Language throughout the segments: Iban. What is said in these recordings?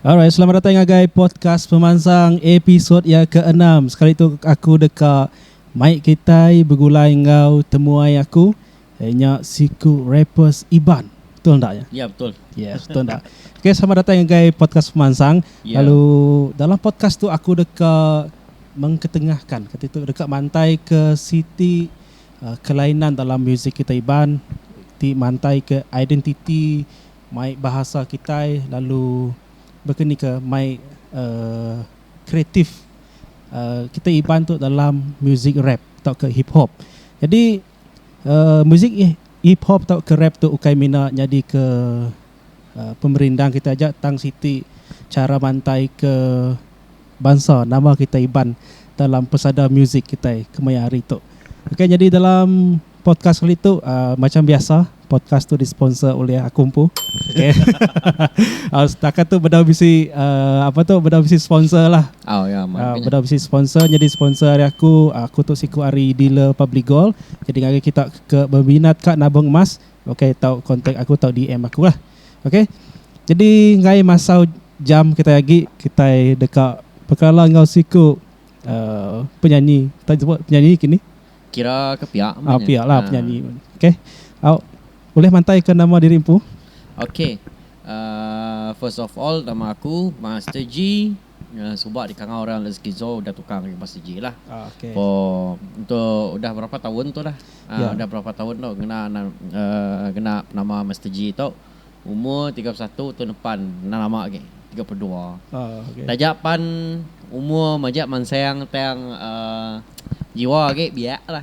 Alright selamat datai ngagai podcast pemansang episod ya ke enam sekali tu aku deka mai kitai begulai enggau temuai aku eh, nya siku rappers Iban betul ndak ya Ya betul. Ya, yes, betul tak? Okay, selamat datang ngagai podcast pemansang. Yeah. Lalu dalam podcast tu aku deka mengketengahkan, kata tu deka mantai ke siti Kelainan dalam muzik kitai Iban ti mantaika identiti mai bahasa kitai lalu baka ni ka mai uhh kreatif uhh kitai Iban tu dalam muzik rap tauka hip hop. Jadi uhh muzik hip hop tauka rap tu ukai mina nyadika. pemerindang kita aja tang siti chara mantai ke bansa nama kita Iban dalam pesada muzik kitai kemaya hari tu. Okey nyadi dalam podcast kali tu uh, macam biasa podcast tu disponsor oleh aku empu. Okey. uh, setakat tu bedau bisi uh, apa tu bedau bisi sponsor lah. Oh ya, yeah, uh, bedau bisi sponsor jadi sponsor hari aku aku tu siku hari dealer Public Gold. Jadi ngagai kita ke berminat ka nabung emas Okay tau contact aku tau DM aku lah okay jadi enggai masau jam kitai agi kitai deka bekala enggau siku um penyanyi tau sebut penyanyi ke ni. Kira ke pia meh nya. Pia lah penyanyi meh okay au ulih mantai ke nama diri empu. Okay um first of all nama aku Master G. Suba dikangau orang lain skizo udah tukar ngagai iban sigi lah. Pom tu udah berapa taun tu lah. Udah berapa taun tu ngena ngena penama Master G tu. Umur tiga puluh satu taun depan enda lama agi tiga puluh dua. Taja pan umur majak mansang tang jiwa agi biak lah.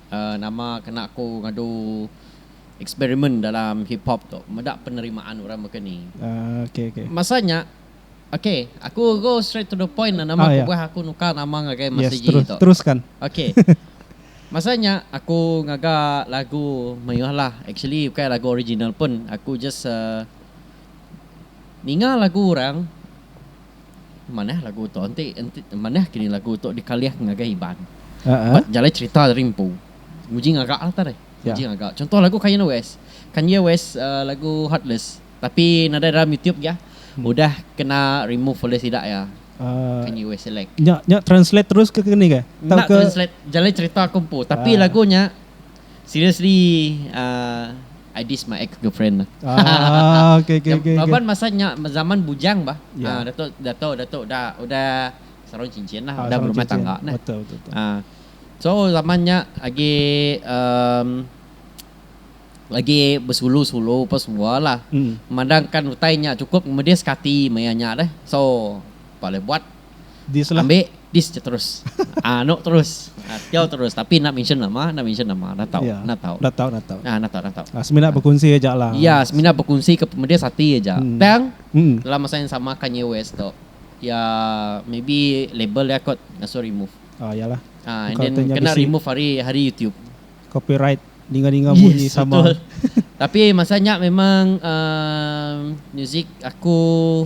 Nama kena aku ngadu eksperimen dalam hip hop tu meda penerimaan orang baka ni. Masa nya ok aku go straight to the point nama kebuah aku nukar nama ngagai Master G tu. Masa nya aku ngaga lagu mayuh lah actually ukai lagu original pun aku just ninga lagu orang. Manah lagu tu enti enti manah kini lagu tu dikalih ngagai iban. Ba jalai cherita ari empu. Nguji ngaga lah tadi. Nguji ngaga. Chunto lagu Kanye West. Kanye West uh, lagu Heartless. Tapi nadai dalam YouTube ya. Hmm. Udah kena remove oleh sida ya. Uh, Kanye West select. Nya nya translate terus ke kini ke? Tak ke translate jalai cerita aku empu. Tapi uh. lagunya Seriously ah I diss my ex girlfriend bah. Ah, okay, okay, okay, okay. Laban masa nya zaman bujang bah. Yeah. Ah, dato dato dato udah udah sarung cincin lah, ah, udah berumah cincin. tangga nah. Betul, betul, betul. Ah. So zaman nya agi um, lagi bersulu-sulu apa semua lah. Mm. Memandangkan utai nya cukup kemudian sekati maya nya deh. So, boleh buat Dislah. Ambi dis ja terus. Ah anu terus. Tau terus tapi enda mention nama, enda mention nama. Enda tau. Ya. Enda tau. Enda tau, enda tau. Ah enda tau, enda tau. Ah semina bekunsi aja lah. Ya semina bekunsi ke pemedis ati aja. Mm. Tang Mm. dalam masa yang sama Kanye West tu ya maybe label dia kot ngasuh remove. Ah ya lah. Ah and Engkau then tanya kena bisi. remove hari hari YouTube. Copyright ninga-ninga bunyi Yes, sama. betul. Tapi masa nya memang um, muzik aku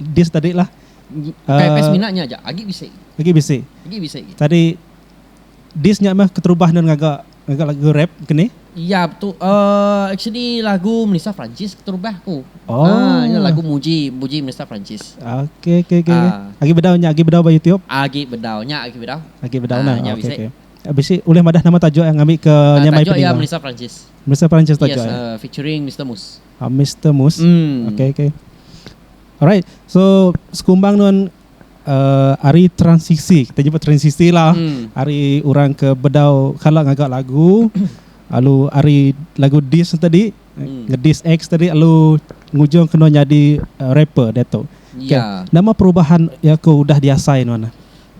dis tadi lah KFS mina nya aja agi bisi. Agi bisi. Agi bisi. Tadi dis nya mah keterubah nan ngaga ngaga lagu rap kini. Iya betul. Uh, actually lagu Melissa Francis keterubah ku. Oh. Ah, uh, lagu Muji Muji Melissa Francis. Okey okey okey. Uh, agi bedau nya agi bedau ba YouTube. Agi bedau nya agi bedau. Agi bedau uh, nah. Nya okay, okay. Habis eh, uleh madah nama tajuk yang ambil ke uh, nyamai Tajuk yang Melissa Francis. Melissa Francis tajuk. Yes, uh, featuring Mr. Moose. Mister Mus ok ok alright so sekumbang nuan ari transisi kita nyebut transisi lah ari orang ke bedau kala ngaga lagu lalu ari lagu diss tu tadi ngediss ex tadi lalu ngujung ke nuan nyadi rapper diatu ok nama perubahan iya ke udah diasai nuan ne.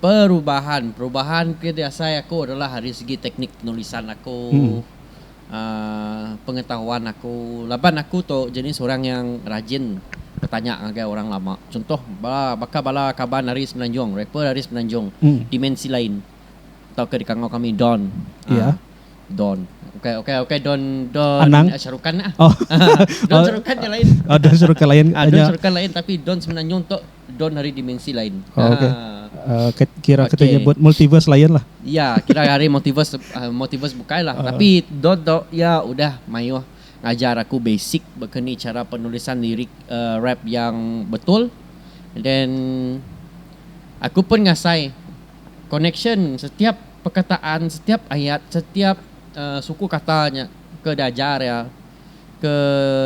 Perubahan perubahan ke diasai aku adalah ari segi teknik penulisan aku pengetahuan aku laban aku tu jenis orang yang rajin betanya ngagai orang lama chuntoh baka bala kaban ari semenanjung rapper ari semenanjung dimensi lain tau ke dikangau kami don don ukai ukai ukai don don sharukan don sharukan nya lain don sharukan lain tapi don semenanjung tu. Don hari dimensi lain. Oh, okay. Uh, ah. kira okay. kita nyebut multiverse lain lah. Ya, kira hari multiverse uh, multiverse bukai lah. Uh. Tapi Don tu ya udah mayuh ngajar aku basic berkeni cara penulisan lirik uh, rap yang betul. And then aku pun ngasai connection setiap perkataan, setiap ayat, setiap uh, suku katanya ke diajar ya. ke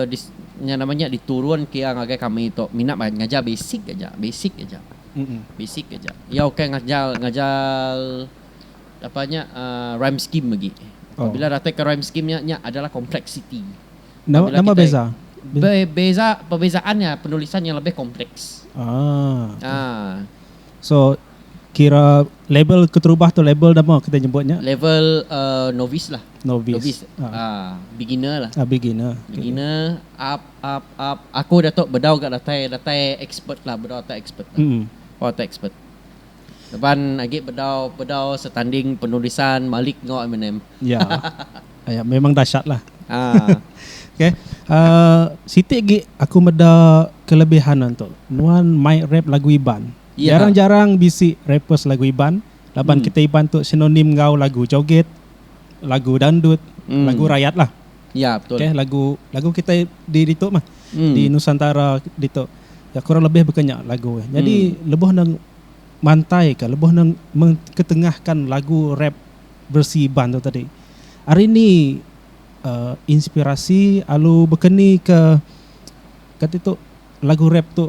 dis nya nama nya diturun ke iya ngagai kami tu mina ba ngajar basic aja, basic aja. Basic aja. Iya ukai ngajar ngajar apa nya aaa rhyme scheme agi. Apabila datai ke rhyme scheme nya nya adalah kompleksiti. Apabila Nama kitai beza? Be, beza perbezaan nya penulisan yang lebih kompleks. Ah. Ah. So kira level keterubah tu level nama kitai nyebut nya? Level uh, novice lah. Novice. Novice. Beginner lah. Ah, beginner. Beginner, up, up, up. Aku datuk bedau ga datai, datai expert lah, bedau datai expert lah. Mm. Bedau datai expert. Depan agi bedau, bedau setanding penulisan Malik enggau Eminem. Ya. Aya memang dasyat lah. Ah. Okey. Uh, siti agi aku meda kelebihan anto. Nuan mai rap lagu Iban. Ya. Jarang-jarang bisi rappers lagu Iban. laban kitai Iban tu sinonim enggau lagu joget, lagu dandut, lagu rayat lah. Ya betul. Okay, lagu lagu kitai di ditu mah. Hmm. Di Nusantara ditu. Ya kurang lebih baka nya lagu. Jadi hmm. lebuh nang mantai ke lebuh nang ketengahkan lagu rap versi Iban tu tadi. Hari ni uh, inspirasi alu bekeni ke kata tu Lagu rap tu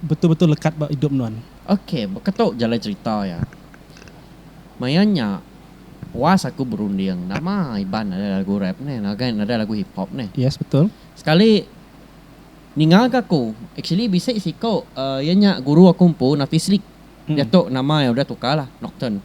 betul betul lekat ba idup nuan. Ok beketu jalai cerita iya. Maya nya puas aku berunding nama Iban nadai lagu rap nih ngagai nadai lagu hip hop nih. Yes betul. Sekali ninga ga aku actually bisi siku iya nya guru aku empu Nafislik diatu nama iya udah tukar lah Nocturne.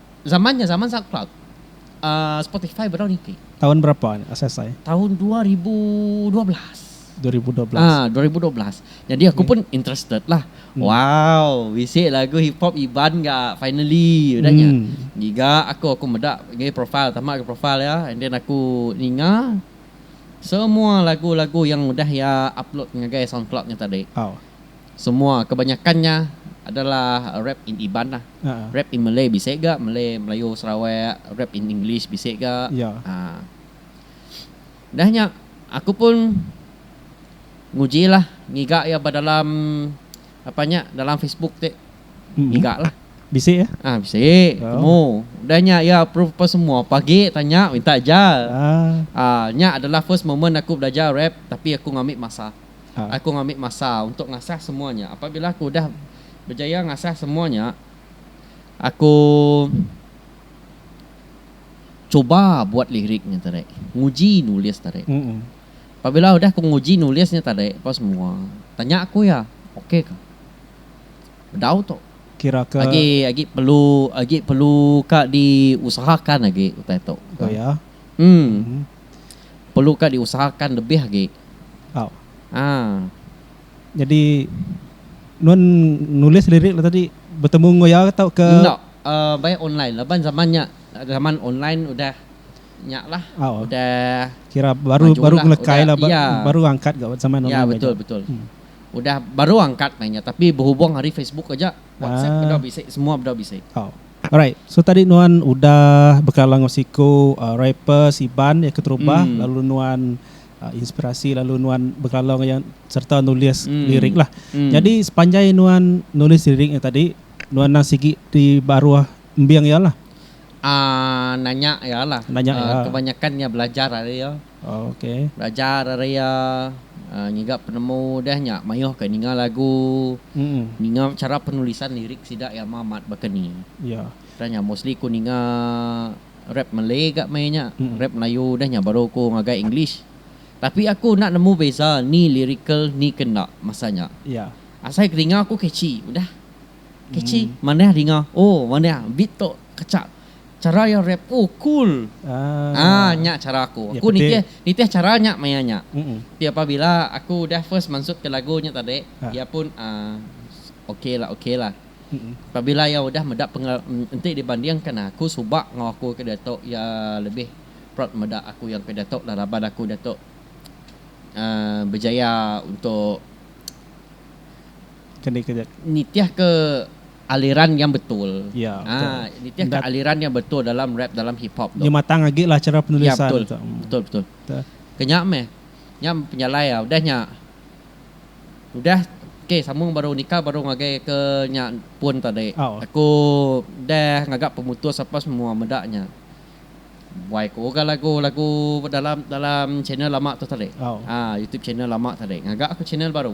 Zaman nya zaman Soundcloud. Uh, Spotify bedau niti. Taun berapa nya asai asai? Taun dua ribu dua belas. Dua ribu dua belas. Ah, dua ribu dua belas. Jadi aku pun interested lah. Hmm. Wow, bisi lagu hip hop Iban ga finally udah nya. Hmm. Giga aku aku meda ngai profile tamak ke profile ya and then aku ninga semua lagu-lagu yang udah ya upload ngagai SoundCloud nya tadi. Oh. Semua kebanyakan nya adalah rap in Iban lah. Rap in Malay bisi ga, Malay, Melayu, Sarawak, rap in English bisi ga. Haa. Udah nya aku pun nguji lah ngiga iya ba dalam apa nya dalam Facebook ti. Ngiga lah. Bisi ya? Haa bisi temu. Udah nya iya approve apa semua pagi tanya minta ajar. Haa nya adalah first moment aku belajar rap tapi aku ngambi masa. Aku ngambi masa untuk ngasah semua nya. Apabila aku udah bejaya ngasah semua nya, aku cuba buat lirik nya tadi, nguji nulis tadi. Apabila udah aku nguji nulis nya tadi apa semua, tanya aku iya, okey ka? Bedau tu. Kira ke Agi agi perlu agi perlu ka diusahakan agi utai tu. Oh ya. Em. perlu ka diusahakan lebih agi. Au. Haa. Nyadi nuan nulis lirik le tadi betemu enggau iya ka tauka? Enda. Uh, baik online laban zaman nya zaman online udah nya lah. Au. Udah kira baru baru ngelekai lah iya. baru angkat ga zaman online. Iya betul betul. Hmm. Udah baru angkat mainnya tapi berhubung ari Facebook aja. WhatsApp uh. beda bisi semua beda bisi. Au. Alright so tadi nuan udah bekala enggau siku rappers iban iya keterubah lalu nuan inspirasi lalu nuan bekala enggau iya sereta nulis lirik lah nyadi sepanjai nuan nulis lirik nya tadi nuan nang sigi ti baruh embing iya lah nanya iya kebanyakan iya belajar ari iya. Belajar ari iya ngiga penemu deh nya mayuh ke ninga lagu, ninga chara penulisan lirik sida iya ama amat baka ni. Tang nya mostly ku ninga rap Malay ga meh nya, rap Melayu deh nya baru ku ngagai English. Tapi aku enda nemu beza ni lirikal ni ke enda masa nya. Asai ke ninga ku catchy udah. Catchy manah dinga oh manah beat tu kachak. Chara iya rap oh cool aah nya chara aku. Aku nitih nitih chara nya maya nya. Ti apabila aku udah first mansut ke lagu nya tadi iya pun aah okay lah okay lah. Apabila iya udah meda pengal enti dibanding kan aku suba enggau aku ke diatu iya lebih proud meda aku yang ke diatu lah laban aku diatu aah bejaya untuk nitih ke aliran yang betul. Ya, betul. Ha nitihka Nda- aliran yang betul dalam rap dalam hip hop tu. Nya matang agi lah chara Ya penulisan betul. tu. Hmm. Betul betul. Betul. Ke nya meh. Nya penyalai ah udah nya. Udah okey sambung baru Nika baru ngagai ke nya pun tadi. Au. Aku udah ngaga pemutus apa semua meda nya. Buai ku ga lagu lagu dalam dalam channel lama tu tadi. Au. Ha YouTube channel lama tadi. Ngaga aku channel baru.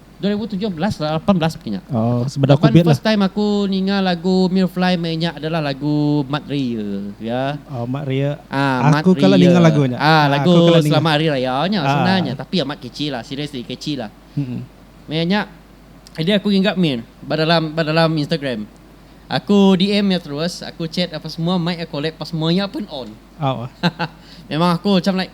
dua ribu tujuh belas la lapan belas baka nya. Oh sebedau Laban covid first lah. time aku ninga lagu Mirfly meh inya adalah lagu Mat Ria ya. Oh mat ria. Ah Mat Aku kala Ria. ninga lagu nya. Ah Ah lagu aku kala ninga. Selamat Hari Raya nya Ah senang nya ah. tapi amat catchy lah seriously catchy lah. Mm. Meh nya jadi aku ngingat meh ba dalam ba dalam Instagram. Aku DM iya terus, aku chat apa semua, mic iya collab apa semua iya pun on. Au ah. Memang aku macam like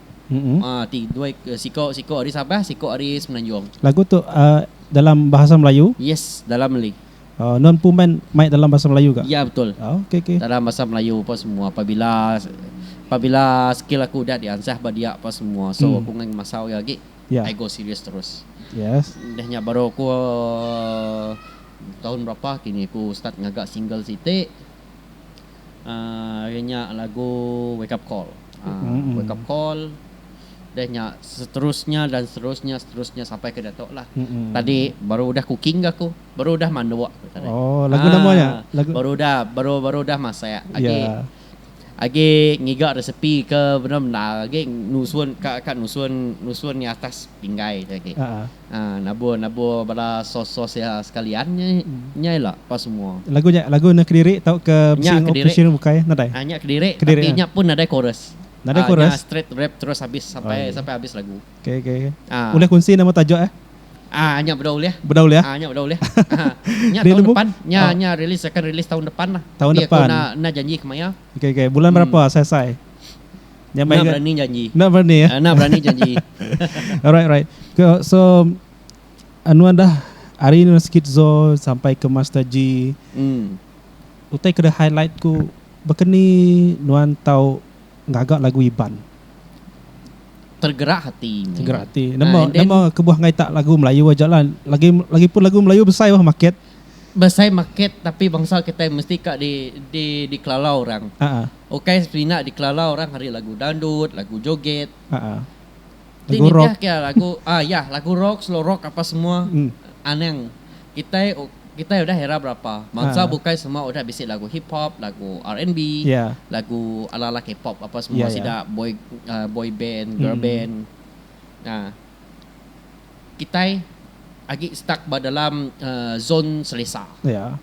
Ha ti dua siko siko ari Sabah siko ari Semenanjung. Lagu tu dalam bahasa Melayu? Yes dalam Meli. Oh nuan empu main mai dalam bahasa Melayu ga? Ya betul. Oh okey okey. Dalam bahasa Melayu apa semua pabila pabila skill aku udah diansah ba dia apa semua so aku enggai ngemasau iya agi I go serious terus. Yes. Udah nya baru aku tahun berapa kini aku start ngaga single siti. Ari nya lagu wake up call wake up call deh nya seterusnya dan seterusnya seterusnya sampai ke diatu lah tadi baru udah cooking ga aku baru udah manduk aku tadi ha baru udah baru baru udah masak agi agi ngiga resipi ke bendar bendar agi nusun ka ka nusun nusun atas pinggai tu agi Nabur nabur bala sos sos iya sekalian nya ila pa semua. Lagu nya lagu enda kediri tauka Missing of Missing bukai nadai. Nya kediri tapi nya pun nadai chorus. Nadai chorus. Nya straight rap terus habis sampai sampai habis lagu. Okay okay. Ulih kunsi nama tajuk eh. Aa nya beda ulih. Beda ulih ah. Nya beda ulih. Nya tahun depan nya nya release akan release tahun depan lah. Tahun depan. Enda janji kemaya. Okay okay bulan berapa asai asai. Nya meh. Enda berani janji. Enda berani ya. Enda berani janji. alright alright. Ke so anuan dah hari ni sikit zo sampai ke Master G. Hmm. Utai ke highlight ku bekeni nuan tau ngaga lagu Iban. Tergerak hati. Tergerak hati. Nama uh, nama kebuah ngai tak lagu Melayu aja lah. Lagi lagi pun lagu Melayu besai wah market. Besai market tapi bangsa kita mesti ka di di di kelalau orang. Uh-uh. Ukai semina dikelala orang ari lagu dandut, lagu joget. Haa. Ti Lagu rock. nitihka iya lagu aa iya lagu rock, slow rock apa semua Hmm. anang kitai kitai udah era berapa. Bansa Haa. bukai semua udah bisi lagu hip hop, lagu RNB, Iya. lagu ala-ala K-pop apa semua Iya, iya. sida boy aa boy band, girl Hmm. band. Nah, kitai agi stuck ba dalam aa zon selesa. Iya.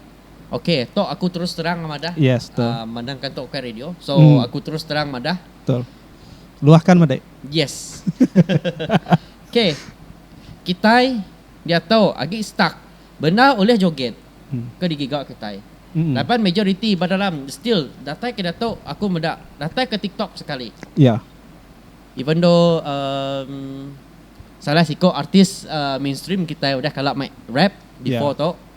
Ok tok aku terus terang madah yes, uh, mandang kan tok bukan radio so mm. aku terus terang madah betul luahkan madah yes ok kita dia tahu agi stuck benar oleh joget mm. ke digiga kita mm. lapan majority badalam still datai ke datuk aku medak datai ke tiktok sekali ya yeah. even though um, salah siko artis uh, mainstream kita udah kalak main rap ya. before yeah. tok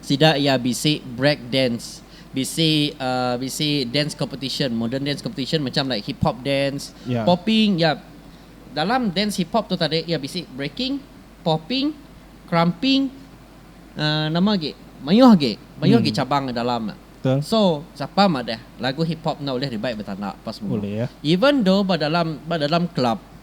Sida iya bisi break dance, bisi bisi dance competition, modern dance competition macham like hip hop dance, popping iya. Dalam dance hip hop tu tadi iya bisi breaking, popping, crumping, nama agi mayuh agi, mayuh agi cabang nya dalam ne. So sapa madah lagu hip hop enda ulih dibai betanda pas semua. Even though ba dalam ba dalam club.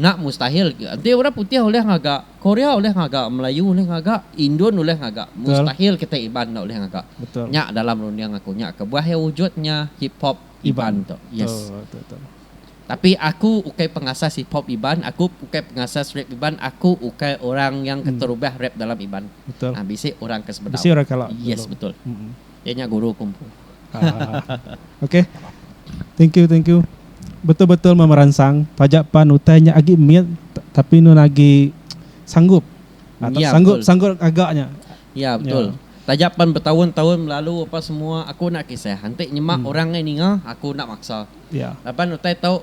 Nya mustahil ke. Enti orang putih ulih ngaga, Korea ulih ngaga, Melayu ulih ngaga, Indun ulih ngaga, mustahil kitai Iban enda ulih ngaga. Nya dalam runding aku nya kebuah iya wujud nya hip hop Iban tu. Yes. Tapi aku ukai pengasas hip hop Iban, aku ukai pengasas rap Iban, aku ukai orang yang keterubah rap dalam Iban. Bisi orang ke sebedau. Yes betul. Iya nya guru kung fu. Okay. Thank you, thank you. Betul-betul memeransang. Taja pan utai nya agi mit tapi nun agi sanggup. Ya, sanggup betul. sanggup gaga nya. Ya, betul. Taja pan betaun-taun belalu apa semua aku enda kisah. Enti nyema orang ngai ninga, aku enda maksa. Laban utai tu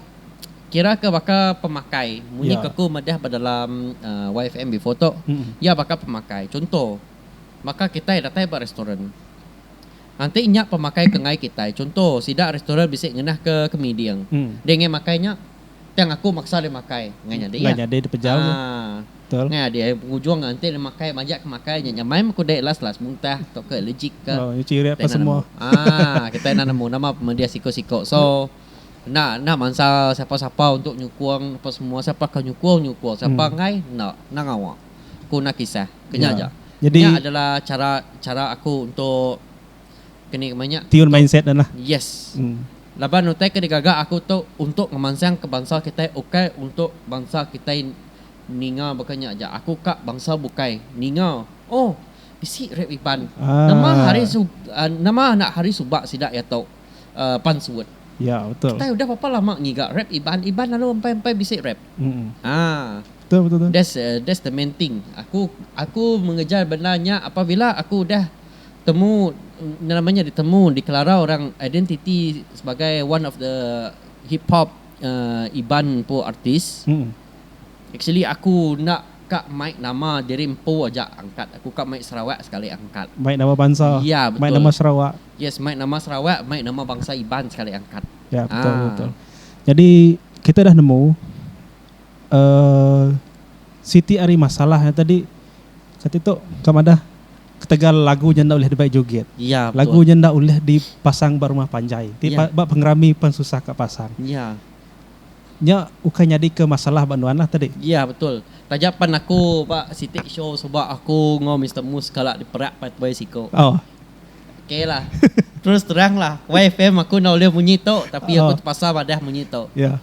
kira ke baka pemakai. Munyi ke aku madah ba dalam YFM before tu, iya baka pemakai. Chunto. Baka kitai datai ba restoran. Nganti nya pemakai ke enggai kitai. Chunto, sida restoran bisi ngenah ke kemiding. Deh enggai makai nya. Tang aku maksa deh makai. Enggai nyadi iya. Haa. Enggai adi ai pengujung nya enti deh makai majak ke makai nya nyamai meh ku deh last last muntah tauka allergic ka. Kitai enda nemu. Haa. Kitai enda nemu nama pemedih siko-siko. So, enda enda mansa sapa-sapa untuk nyukung apa semua. Sapa ke nyukung, nyukung. Sapa enggai, enda. Enda ngawa. ku Nakisah. Kenya aja. Nya adalah chara chara aku untuk keni kema nya. Tune mindset ne lah. Yes. Laban utai ke digaga aku tu untuk ngemansangka bansa kitai ukai untuk bansa kitai ninga baka nya aja. Aku ka bansa bukai ninga oh bisi rap Iban. Nama hari nama anak hari suba sida iya tu. pan suut. Ya betul. Kitai udah bapa lama ngiga rap iban iban lalu empai empai bisi rap. Haa. Betul betul tu. That's that's the main thing. Aku aku mengejar benda nya apabila aku udah temu nama nya ditemu dikelarau orang identiti sebagai one of the hip hop iban empu artis. Actually aku enda ka mai nama diri empu aja angkat aku ka mai Sarawak sekali angkat. Mai nama bansa. Ya betul. Mai nama Sarawak. Yes mai nama Sarawak mai nama bangsa Iban sekali angkat. Ya betul ha. betul. Jadi kita dah nemu uh, siti ari masalah yang tadi kata tu kau madah ketegal lagu nya ndak ulih dibai joget. Ya, lagu nya ndak ulih dipasang ba rumah panjai. Ti ya. ba pengerami pun susah ka pasang. Ya. Nya ukai nyadi ke masalah ba nuan lah tadi. Ya betul. Taja pan aku ba siti show sebab aku ngau Mister Mus kala diperak pai siku. Oh. Okay lah terus terang lah wai fam aku enda ulih munyi tu tapi aku uh. terpaksa madah munyi tu ya yeah.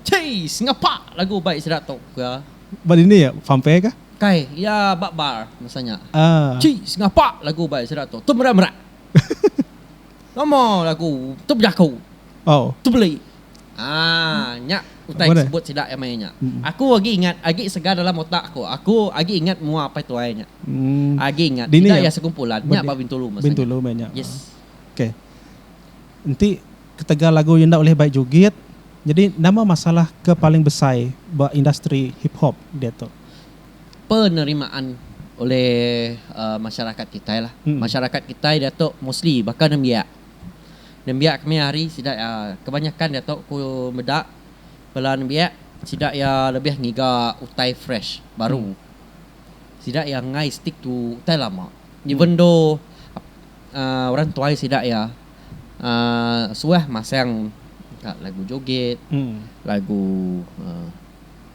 Cei, sengapak lagu baik sida tu ke ya. ba dini ya fam fair ke kai ya ba bar masanya ah uh. Cei, sengapak lagu baik sida tu tu merak merak Lama lagu tu berjaku. Oh. Tu beli. Aaa nya utai ke sebut sida iya maya nya. Aku agi ingat, agi segar dalam otak aku. Aku agi ingat mua apai tuai nya. Agi ingat. Sida iya sekumpulan. Nya ba Bintulu masa nya. Bintulu meh nya. Yes. Okay. Enti ketegal lagu enda ulih bai jugit, nyadi nama masalah ke paling besai ba industri hip hop diatu? Penerimaan oleh masyarakat kitai lah. Masyarakat kitai diatu mostly baka nembiak. nembiak kemaya hari sida iya kebanyakan dia tu ku meda bala nembiak sida iya lebih ngiga utai fresh baru sida iya enggai stick to utai lama even though uhh orang tuai sida iya uhh suah masang lagu joget lagu uhh.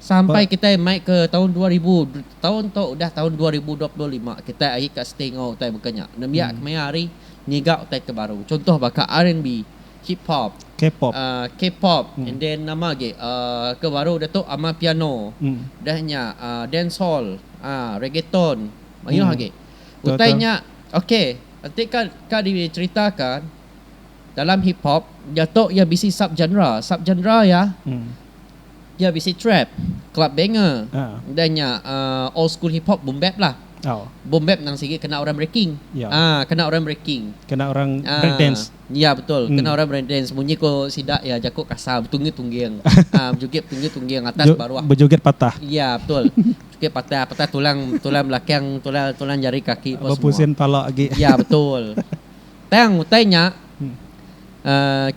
Sampai kitai mai ke taun dua ribu, taun tu udah taun dua ribu dua puluh lima, kitai agi ka stay enggau utai baka nya. Nembiak ke maya hari ngiga utai ke baru. Chuntoh baka RNB, Hip Hop, K-pop and then nama agi ke baru udah tu Amapiano, udah nya Dancehall, Reggaeton, mayuh agi. Utai nya ok enti ka diceritaakan dalam Hip Hop, nya tu iya bisi sub-genre. Sub-genre iya. Iya bisi trap, club banger, dan nya old school hip hop, boom bap lah. Boom bap nang sigi kena orang breaking. Aa kena orang breaking. Kena orang break dance. Iya betul, kena orang break dance. Munyi ko sida iya jaku kasar, betungging tungging. Aa bejoget tungging tungging atas baruh. Bejoget patah. Iya betul. Joget patah, patah tulang tulang belakang, tulang tulang jari kaki apa semua. Bepusin pala agi. Iya betul. Tang utai nya.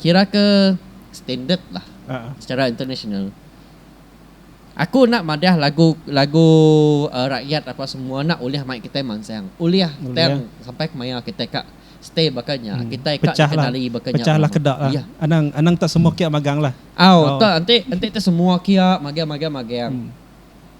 kira ke standard lah secara international aku enda madah lagu lagu rakyat apa semua enda ulih mai kitai mansang ulih tang sampai kemaya kitai ka stay baka nya kitai ka dikenali baka nya iya anang anang ta semua kia magang lah au ta enti enti ta semua kia magang magang magang.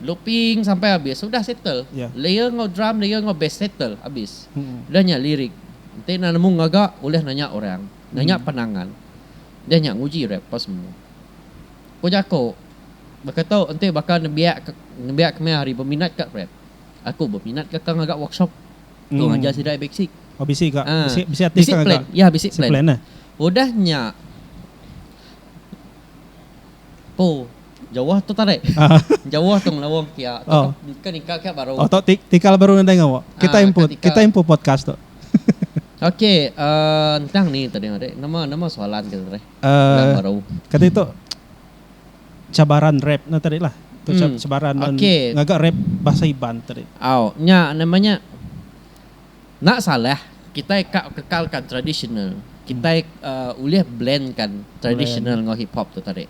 Looping sampai abis udah settle. Ya. Layer enggau drum, layer enggau bass settle abis. Udah nya lirik. Enti enda nemu ngaga ulih nanya orang, nanya pandangan. Udah nya nguji rap apa semua. Ku jaku baka tu enti baka nembiak ke nembiak ke meh hari beminat ka rap. Aku beminat ka ngaga workshop tu ngajar sida ai basic. Oh bisi ka. Ah. Bisi bisi ati ka ngaga. Ya bisi plan. Bisi plan ah. Udah nya. Oh jauh tu tarik jauh tu ngelawang kia tu ke nikal kia baru. Oh tu tikal baru nadai ngawa. Kita impu kita impu podcast tu. Oke ntang ni tadi ngagai nama nama soalan kita tadi yang baru. Kati tu cabaran rap ne tadi lah tu cabaran ngaga rap bahasa iban tadi. Au nya nama nya. Enda salah kitai ka kekalka tradisional, kitai ulih blend ka tradisional enggau hip hop tu tadi.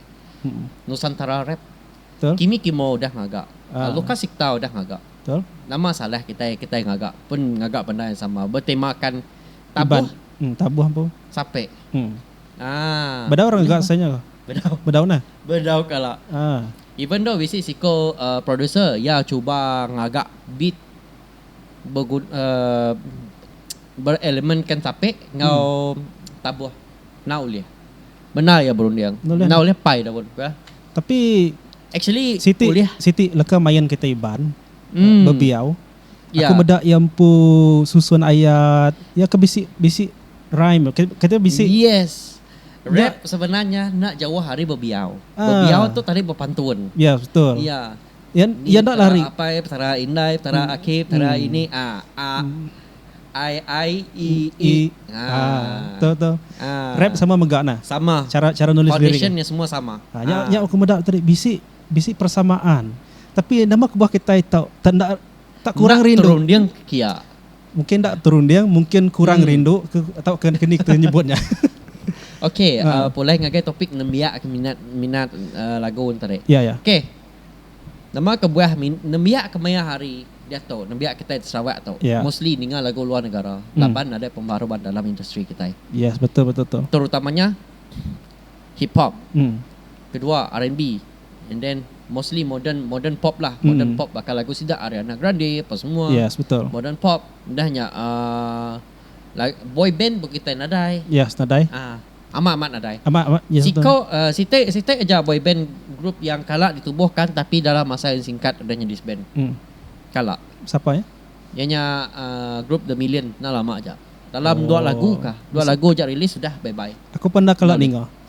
Nusantara rap, Kimi Kimo udah ngaga, Lukas Sikta udah ngaga. Nama salah kitai, kitai ngaga pun ngaga benda yang sama betemakan tabuh sape. Bedau. Bedau kala. Even though bisi siko producer iya chuba ngaga beat berelemenkan tape enggau tabuh enda ulih bendar iya berunding enda ulih pai daun ke tapi actually ulih siti leka main kita Iban bebiau aku meda iya empu susun ayat iya ke bisi bisi rhyme kata bisi yes rap sebenarnya enda jauh ari bebiau bebiau tu tadi bepantun iya betul iya. Ni Petara Apai, Petara Indai, Petara Aki, Petara Ini, a, a, ai, ai, i, i. Rap sama mega nah. Sama. Chara chara nulis lirik. Foundation nya semua sama. Ha nya nya aku meda tadi bisi bisi persamaan. Tapi nama kebuah kitai tau tanda tak kurang rindu. Enda terunding ke kia. Mungkin enda terunding, mungkin kurang rindu ke atau ke keni kita nyebut nya. Okey, pulai ngagai topik nembiak ke minat minat lagu enteri. Ya, ya. Okey. Nama kebuah nembiak kemaya hari diatu, nembiak kitai di Sarawak tu, mostly ninga lagu luar negara laban nadai pembaru ba dalam industri kitai. Yes, betul betul tu. Terutamanya hip hop. Kedua, R&B. And then mostly modern modern pop lah. Modern mm. pop bakal lagu sida Ariana Grande apa semua. Yes, betul. Modern pop dah nya uh, boy band pun kita nadai. Yes, nadai. Ah, uh, amat amat nadai. Amat amat. Yes, Siko uh, siti siti aja boy band grup yang kala ditubuhkan tapi dalam masa yang singkat udah jadi band. Mm. Kala. Siapa ya? Yang nya uh, grup The Million nah lama aja. Dalam oh. dua lagu kah? Dua lagu aja rilis sudah bye bye. Aku pernah kala ninga.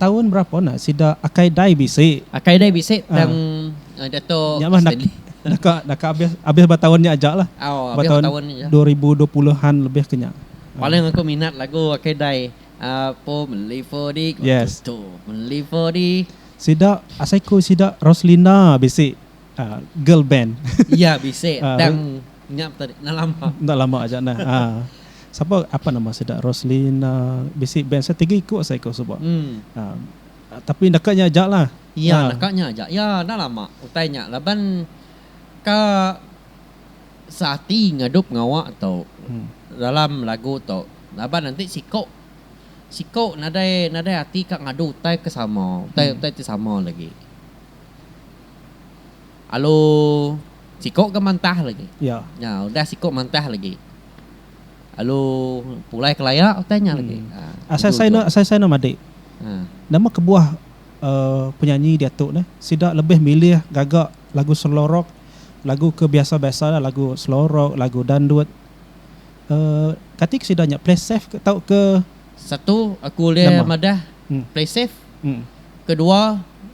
Taun berapa enda sida akai dai bisi. Akai dai bisi tang Datuk Stanley. Deka deka abis abis ba taun nya aja lah. Ba taun dua ribu dua puluh an lebih ke nya. Paling aku minat lagu akai dai Apo meli fodi ko tutu meli fodi. Sida asai ku sida Roslinda bisi. girl band. Iya bisi tang nya pun tadi enda lama. Enda lama aja nah. Ha. Sapa apa nama sida Roslina bisi band sida tiga iku asa iku suba. Ha tapi deka nya aja lah. Iya deka nya aja. Iya enda lama utai nya laban ka seati ngadup ngawa tu dalam lagu tu laban enti siku siku nadai nadai ati ka ngadu utai ke sama utai utai ti sama lagi. Alu siko ga mantah lagi. Nya udah siko mantah lagi. Alu pulai kelaya utai nya lagi. Asai sai enda asai sai enda madi. Nama kebuah penyanyi diatu ne sida lebih milih gaga lagu slow rock, lagu ke biasa biasa la lagu slow rock, lagu dandut. Kati ke sida nya play safe ke tau ke. Satu aku ulih madah play safe. Kedua.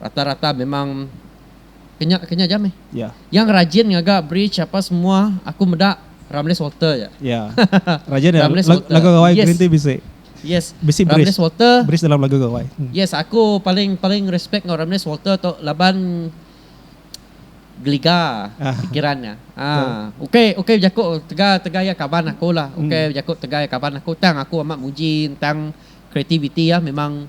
rata-rata memang kenya kenya jam eh. Yeah. Yang rajin ngaga bridge apa semua aku meda Ramles Walter ya. Yeah. rajin ya. Ramles Walter. Lagu gawai yes. Green Tea bisi. Yes. Bisi Ramles bridge. Walter. Bridge dalam lagu gawai. Hmm. Yes, aku paling paling respect ngau Ramles Walter tu laban geliga ah. fikirannya. Ah, okey okey jaku tegal tegal ya kaban aku lah. Hmm. Okey hmm. jaku tegal ya kaban aku tang aku amat muji tentang creativity ya memang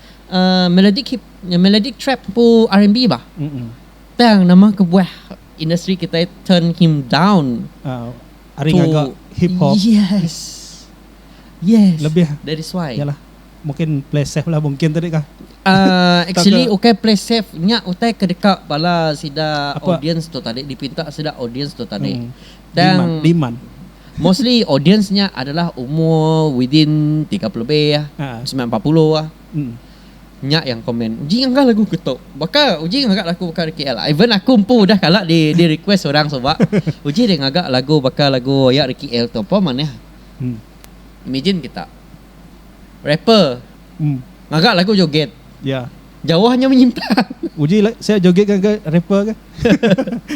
melodic hip melodic trap ku rnb bah tang nama kebuah industri kitai turn him down ari ngaga hip hop yes yes lebih that is why yalah mungkin play safe lah mungkin tadi kah actually ukai play safe nya utai ke deka bala sida audience tu tadi dipinta sida audience tu tadi. Tang Liman. Mostly audience nya adalah umur within tiga puluh lebih ah. Ha. Semilan empat puluh ah. Hmm. Nya yang komen. Uji ngangah lagu ke tu. Baka uji ngaga lagu baka di KL. Even aku empu udah kala di di request orang suba. Uji deh ngaga lagu baka lagu aya di KL tu. Apa manah. Hmm. Imagine kita. Rapper. Hmm. Ngaga lagu joget. Ya. Jauh nya menyimpang. Uji la sia joget ga ga rapper ga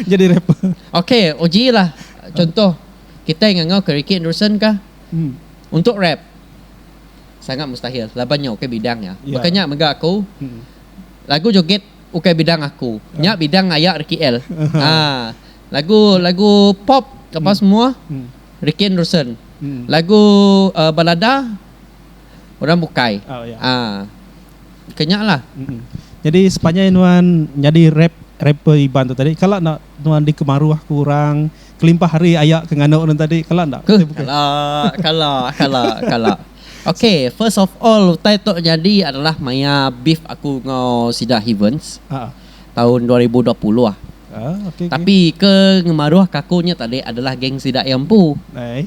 jadi rapper. Ok uji lah contoh kitai ngangau ke Ricky Anderson kah untuk rap sangat mustahil laban nya ukai bidang nya baka nya mega aku lagu joget ukai bidang aku nya bidang aya Ricky El ha lagu lagu pop apa semua Ricky Anderson lagu balada. orang bukai oh, yeah. ha. kenyak lah mm-hmm. jadi sepanjai nuan jadi rap rapper iban tu tadi kalau nak nuan dikemaruh ke orang kelimpah hari ayak ke nganu orang tadi kalau nak ke, kalau kalau kalau kalau Okay, first of all, utai tu jadi adalah maya beef aku ngau Sida Heavens. Uh-huh. Tahun 2020 lah. Ah, okay, Tapi okay. ke ngemaruh kakunya tadi adalah geng sidak yang pu.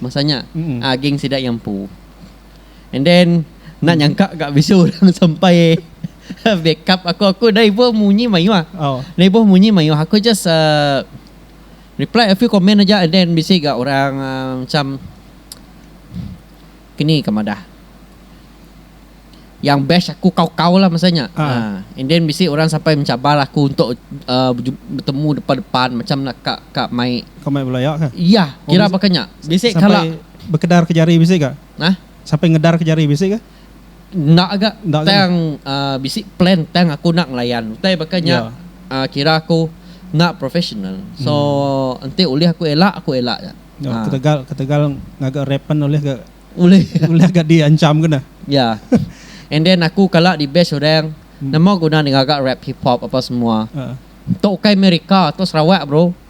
Masanya. Mm-hmm. Ah, geng sidak yang pu. And then enda nyangka ga bisi orang sampai backup aku aku enda ibuh munyi mayuh. Oh. Enda ibuh munyi mayuh aku just uh, reply a few comment aja and then bisi ga orang uh, macam kini ka madah yang bash aku kau-kau lah masa nya. Ah. Ah, and then bisi orang sampai mencabar aku untuk uh, beju- bertemu depan-depan macam nak ka ka mai Kau mai belaya ke? Iya, Oh, kira bisi- bakanya. Bisi sampai- kala Bekedar ke jari bisi ga? Hah? Sampai ngedar ke jari bisi ga? Enda ga. Enda ga. Tang uhh bisi plan tang aku enda ngelayan. Utai baka nya Ya. uhh kira aku enda professional. So Hmm. enti ulih aku elak, aku elak ja. Ya, Uhh. ketegal ketegal ngaga rap pen ulih ga Ulih. ulih ga di ancham ke nah. Ya. And then aku kala di bash orang, Hmm. nama guna ne ngaga rap hip hop apa semua. Uhh. Tu ukai meh reka, tu Sarawak bro.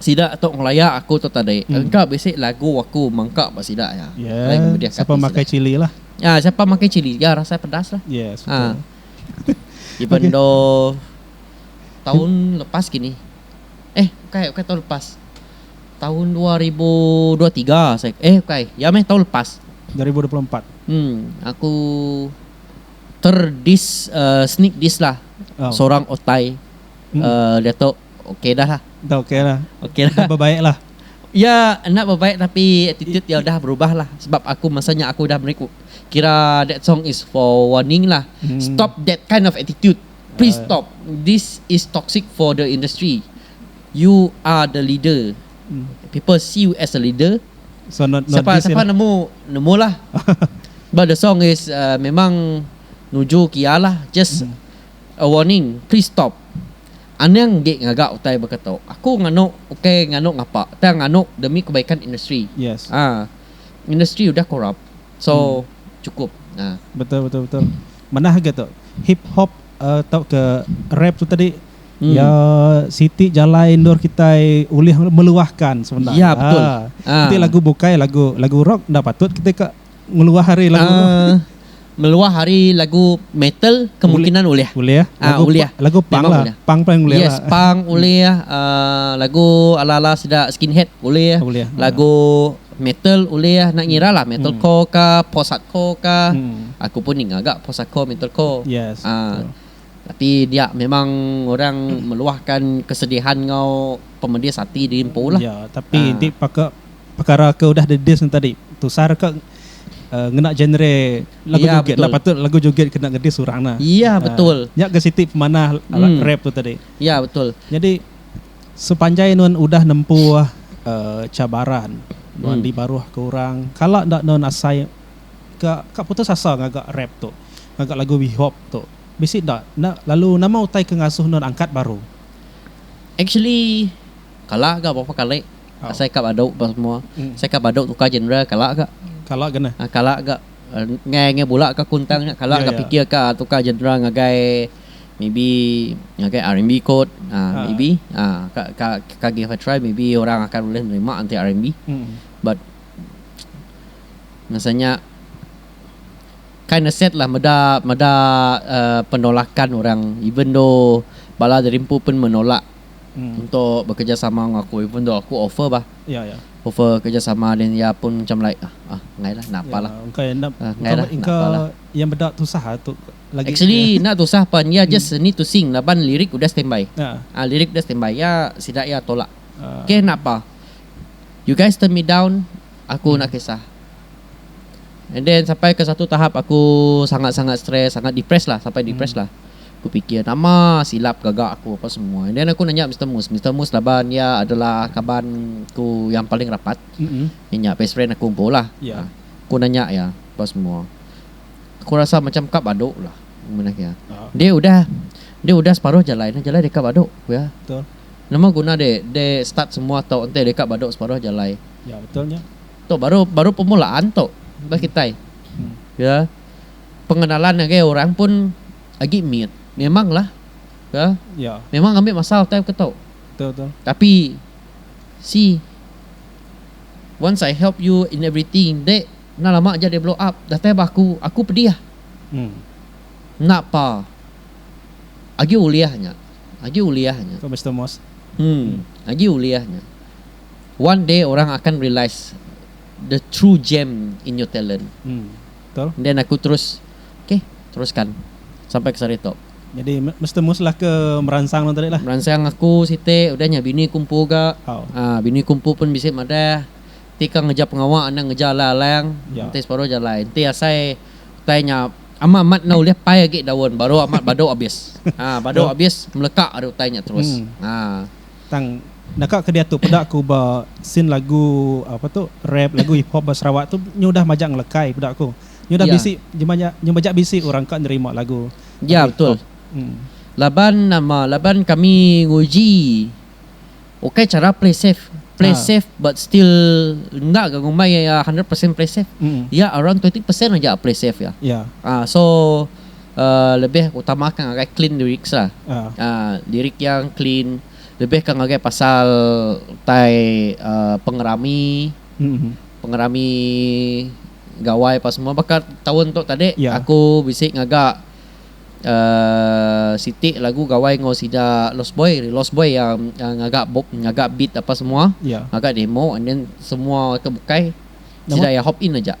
Sida tu ngelaya aku tu tadi. Engka bisi lagu aku mengka ba sida iya. Lain ngemedihka ati sida. Siapa makai chili lah. Ya, siapa makai chili ga rasa pedas lah. Yes, betul. Ha. Even though tahun lepas kini. Eh, bukai, bukai tahun lepas. Tahun 2023 saya. Eh, bukai. Ya meh tahun lepas. 2024. Hmm, aku terdis uh, sneak dis lah. Oh. Seorang otai mm. uh, eh, Datuk Ok dah lah. Dah ok lah. Ok dah. Dah bebaik lah. Ya enda bebaik tapi attitude iya udah berubah lah sebab aku masa nya aku udah meri kira that song is for warning lah stop that kind of attitude please stop this is toxic for the industry you are the leader people see you as a leader siapa siapa nemu nemu lah but the song is err memang nuju ke iya lah just a warning please stop. Anang enggi ngaga utai baka tu. Aku nganu ukai nganu ngapa tang nganu demi kebaikan industri. Yes. Ah industri udah corrupt so Hmm. cukup. Ah. Betul betul betul. Manah agai tu. Hip hop uh, tauka rap tu tadi Hmm. iya siti jalai endur kitai ulih meluahkan sebenar. Ya betul. Ah. Enti Ah. lagu bukai lagu lagu rock enda patut kitai ka Meluah ari lagu tu. Meluah ari lagu metal kemungkinan ulih. Ulih. Lagu punk lah. Punk paling ulih lah. Yes punk ulih. Lagu ala-ala sida skinhead ulih. Lagu metal ulih. Enda ngira lah metal core ka post hardcore ka. Aku pun ninga ga post hardcore metal core. Yes betul. Tapi dia memang orang meluahkan kesedihan enggau pemedis ati diri empu lah. Ya, tapi ha. enti paka perkara ke udah didis ne tadi, tusar ka uh, ngena genre lagu ya, joget lah patut lagu joget kena ngedis orang nah. Ya ah, betul. Uh, nya ke siti pemanah alat hmm. rap tu tadi. Ya betul. Jadi sepanjai nun udah nempu uh, cabaran nun hmm. di baruh ke orang, kala ndak nun asai ka ka putus asa ngaga rap tu. ngaga lagu We Hope tu. Bisi enda enda lalu nama utai ke ngasuh endor angkat baru? Actually kala ga berapa kali asai ka badu apa semua. Asai ka badu tukar genre kala ga. Kala ga nah. Kala ga ngai ngai bula ka kuntang nya kala ga pikir ka tukar genre ngagai maybe ngagai RMB kot maybe ka ka ka give a try maybe orang akan ulih nerima enti RMB but masa nya Kinda sad lah meda meda penolakan orang even though bala dari empu pun menolak untuk bekerjasama enggau aku even though aku offer bah offer kerjasama then iya pun macam like ah enggai lah enda apa lah enggai lah enda apa lah. Actually enda tusah pan iya just need to sing laban lirik udah standby ah lirik udah standby iya sida iya tolak okay enda apa you guys turn me down aku enda kisah. And then sampai ke satu tahap aku sangat-sangat stress, sangat depressed lah, sampai depressed lah. Aku pikir nama silap gaga aku apa semua. And then aku nanya Mister Mus. Mister Mus laban iya adalah kaban ku yang paling rapat. Mm-mm. Iya nya best friend aku empu lah. Ya. Ah, Aku nanya iya apa semua. Aku rasa macam ka badu lah. Manah iya. Ah. Dia udah dia udah separuh jalai nah jalai deka badu ku iya. Betul. Nama guna dia dia start semua tau enti deka badu separuh jalai. Ya, betul nya. Tu baru baru pemulaan tu bagi kitai ya pengenalan ngagai orang pun agi mit memanglah ya memang ngambi masa time ke tu tapi si once I help you in everything enda enda lama aja dia blow up datai ba aku aku pedih enda pa agi ulih nya agi ulih nya agi ulih nya. One day orang akan realise the true gem in your talent. Hmm. Betul. And then aku terus, Okay, teruskan sampai ke sehari tu. Jadi me mesti muslah ke meransang nuan tadi lah. Meransang aku siti, udah nya bini ku empu ga. Au. Ah, bini ku empu pun bisi madah, Enti kau ngereja pengawa enda ngereja alai alang, Ya. enti separuh aja alai. Enti asai utai nya ama amat enda ulih pai agi daun baru amat badu abis. Ah, badu Betul. abis meleka ari utai nya terus. Hmm. Ah. Tang deka ke diatu peda aku ba scene lagu apa tu rap lagu hip hop ba Sarawak tu nyudah majak ngelekai peda aku. Nyudah Ya. bisi nyemaja nyemaja bisi orang ka nerima lagu Ya, lagu hip betul. hop. Em. Laban nama laban kami nguji ukai chara play safe. Play Ah. safe but still enda ga ngumbai iya hundred percent play safe. Mm. Iya around twenty percent aja play safe iya. Ya. Ah so lebih utamakan ngagai clean lyrics lah lyric yang clean lebih ke ngagai pasal utai pengerami pengerami gawai apa semua baka taun tu tadi aku bisi ngaga siti lagu gawai enggau sida lost boy lost boy yang ngaga ngaga beat apa semua ngaga demo and then semua ke bukai sida iya hop in aja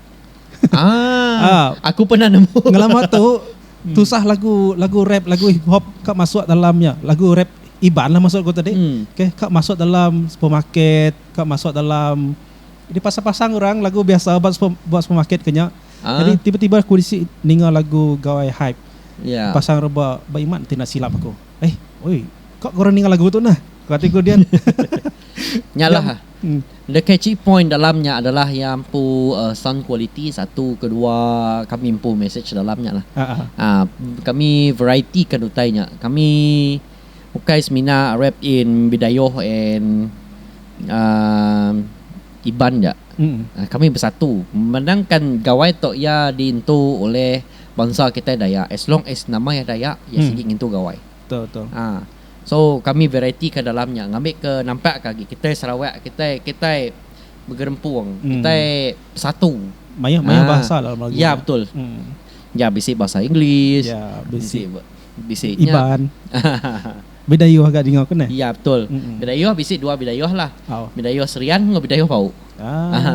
Ah, aku pernah nemu. Ngelama tu tusah lagu lagu rap lagu hip hop ka masuk dalam nya lagu rap iban lah masuk ku tadi okay ka masuk dalam supermarket ka masuk dalam di pasar pasar orang lagu biasa ba super ba supermarket ke nya jadi tiba tiba ku bisi ninga lagu gawai hype pasang rebak ba iman ti silap aku eh oi ka ku ninga lagu tu nah ku hati ku dian nya lah. The catchy point dalam nya adalah iya empu sound quality satu kedua kami empu message dalam nya lah kami variety kan utai nya kami ukai semina rap in bidayuh and um iban ja kami bersatu memandangkan gawai tu iya diintu oleh bansa kitai dayak as long as nama iya dayak iya sigi ngintu gawai. Betul betul. Ha. So kami variety ka dalam nya ngambi ke nampak ka agi kitai Sarawak kitai kitai begerempung kitai hmm. besatu. Mayuh mayuh ha. bahasa dalam lagu. Ya betul. Hmm. Ya bisi bahasa English. Ya bisi bisi Iban. Bidayuh agak dengar kena. Ya betul. Hmm. Bidayuh bisi dua bidayuh lah. Oh. Bidayuh Serian dengan bidayuh Pau. Ah. Ha.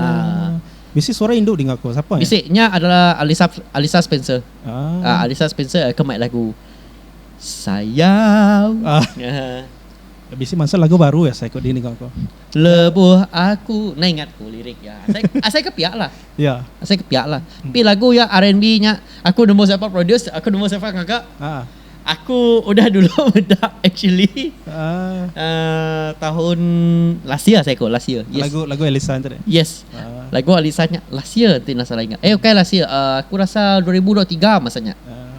Bisi suara indu dengar ko siapa? Bisi nya adalah Alisa Alisa Spencer. Ah. Uh, Alisa Spencer uh, kemai lagu. Sayau ah. Bisi mansa lagu baru ya asai ko di ninga ko. Lebuh aku na ingat ko lirik ya. Asai asai ke pia lah. Ya. Asai ke pia lah. Tapi lagu ya RNB nya aku nemu siapa produce aku nemu siapa ngaga. Ah. Aku udah dulu meda actually. Ah. Uh, tahun last year asai ko last year. Yes. Lagu lagu Elisa tu deh. Yes. Ah. Lagu Elisa nya last year ti na salah ingat. Eh okay last year. Uh, aku rasa 2023 masanya. Ah.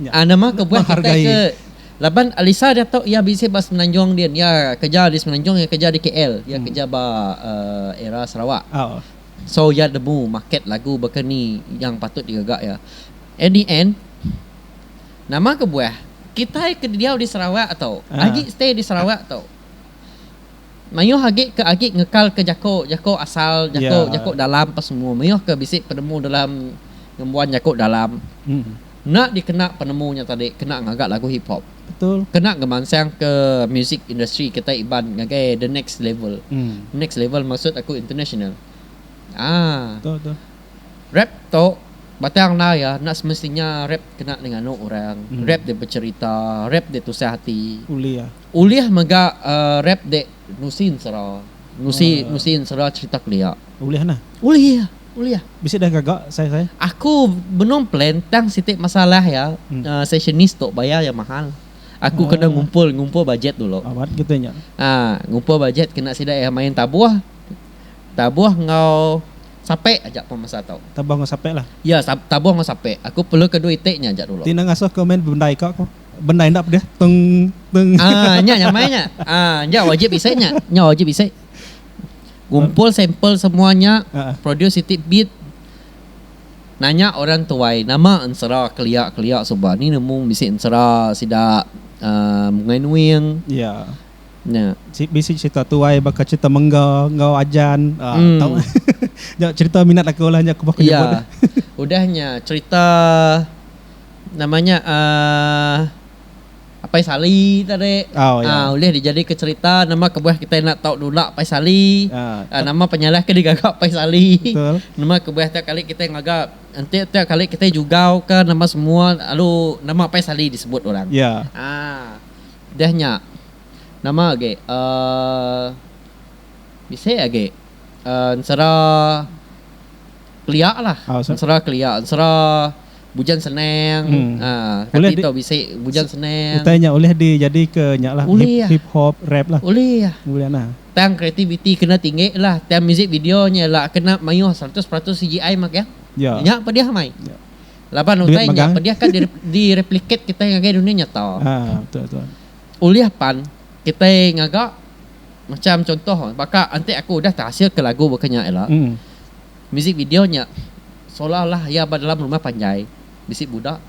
nya. Nama ke buah kitai ke laban Alisa diatu iya bisi ba Semenanjung din iya keja di Semenanjung iya keja di KL iya keja ba era Sarawak so iya nemu market lagu baka ni yang patut digaga iya at the end nama ke buah kitai ke diau di Sarawak tu agi stay di Sarawak tu. Mayuh agi ke agi ngekal ke jako jako asal jako jako dalam pa semua mayuh ke bisi penemu dalam ngembuan jako dalam enda dikena penemu nya tadi kena ngaga lagu hip hop kena ngemansang ke music industry kita iban ngagai the next level next level maksud aku international aa rap tu batang enda iya enda semestinya rap kena di nganu orang rap di becerita rap di tusah ati. Ulih mega rap dek nusi ensera. Nusi nusi ensera cerita kelia. Ulih nah. Ulih ulih. Bisi dah gaga sai sai. Aku benung plan tang siti masalah ya sessionis tu bayar iya mahal. Aku kena ngumpul ngumpul bajet dulu. Awat kita nya. Haa ngumpul bajet kena sida iya main tabuh. Tabuh enggau sape aja pun masa tu. Tabuh enggau sape lah. Ya tabuh enggau sape. Aku perlu ke duit iti nya aja dulu. Ti enda ngasuh ke main bendai ka ko. Bendar enda pedih teng teng. Ah nya nya mai nya. Ah nya wajib isai nya. Nya wajib isai. Gumpul sampel semua nya, produce siti bit. Nanya orang tuai nama ensera kelia kelia suba ni nemu bisi ensera sida ah Bungai Nuing. Ya. Nya. Si bisi cerita tuai baka cerita mengga enggau ajan ah tau. Nya cerita minat aku lah nya ku ba ku nyebut. Ya. Udah nya cerita. nama nya um Apai Sali tadi oh, ya. uh, ulih dijadika cerita nama kebuah kita enda tau nulak Apai Sali uh, uh, nama penyalah ke digaga Apai Sali betul. nama kebuah tiap kali kita ngaga enti tiap kali kita jugau ke nama semua lalu nama Apai Sali disebut orang ya yeah. uh, dah nya nama agi uh, bisi agi uh, sera kelia lah oh, sera kelia sera Bujan senang uhh ulih di bujan senang utai nya ulih di jadi ke nya lah ulih ya hip hop rap lah ulih ya ulih nah tang kreativiti kena tinggi lah tang music video nya la kena mayuh seratus peratus CGI mah kya ya nya pedih amai ya laban utai nya pedih ka di replicate kitai ngagai dunia nyata ha betul betul ulih pan kitai ngaga macam contoh baka enti aku udah terhasil ke lagu baka nya ila Muzik video nya seolah-olah iya ba dalam rumah panjai bisi budak,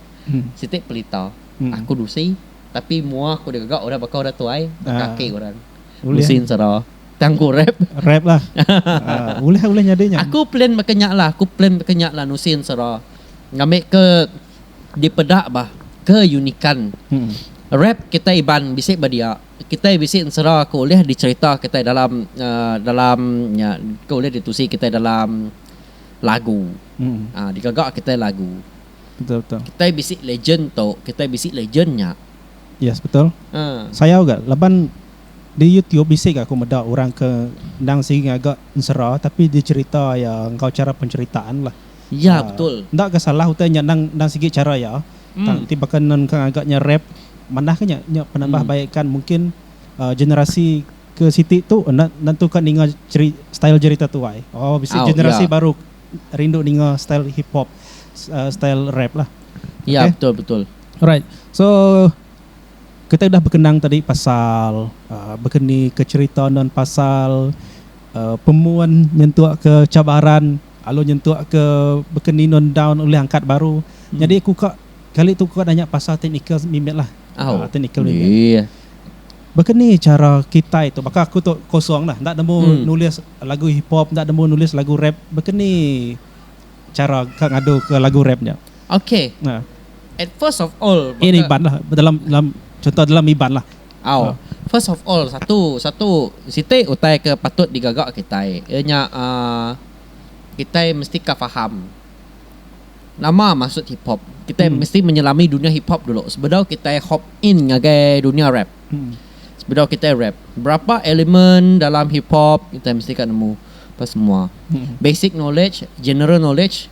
siti pelita, aku dusi tapi mua aku digaga orang baka orang tuai, baka aki orang. Dusi ensera. Tang ku rap. Rap lah. Ulih ulih nyadi nya. Aku plan baka nya lah, aku plan baka nya lah nusi ensera. Ngambi ke dipeda bah keunikan rap kitai Iban bisi ba dia. Kitai bisi ensera ke ulih dicherita kitai dalam dalam nya ke ulih ditusi kitai dalam lagu aaa digaga kitai lagu. Betul betul. Kitai bisi legend tu, kitai bisi legend nya. Yes betul. Aaa. Sayau ga laban di YouTube bisi ga aku meda orang ke endang sigi ngaga ensera tapi dicherita iya enggau chara penceritaan lah. Ya betul. Enda ga salah utai nya endang endang sigi chara iya Tang ti baka nun ka ngaga nya rap manah ka nya nya penambah baikan mungkin generasi ke siti tu enda nentu ka ninga style jerita tuai oh bisi generasi baru rindu ninga style hip hop style rap lah alright so kitai dah bekenang tadi pasal begeni ke cherita nun pasal pemun nyentuk ke cabaran. Lalu nyentuk ke beken ninun daun ulih angkat baru. Nyadi aku ka kali tu aku nanya pasal technical mimit lah. Technical mimit. Baka ni chara kitai tu baka aku tu kosong lah enda nemu nulis lagu hip hop enda nemu nulis lagu rap baka ni chara ka ngadu ke lagu rap nya. Ini iban lah dalam dalam chunto dalam iban lah. Au. First of all, satu, satu siti utai ke patut digaga kitai iya nya uhh kitai mesti ka faham nama maksud hip hop. Kitai mesti menyelami dunya hip hop dulu sebedau kitai hop in ngagai dunya rap. Sebedau kitai rap, berapa element dalam hip hop kitai mesti ka nemu apa semua. Basic knowledge, general knowledge.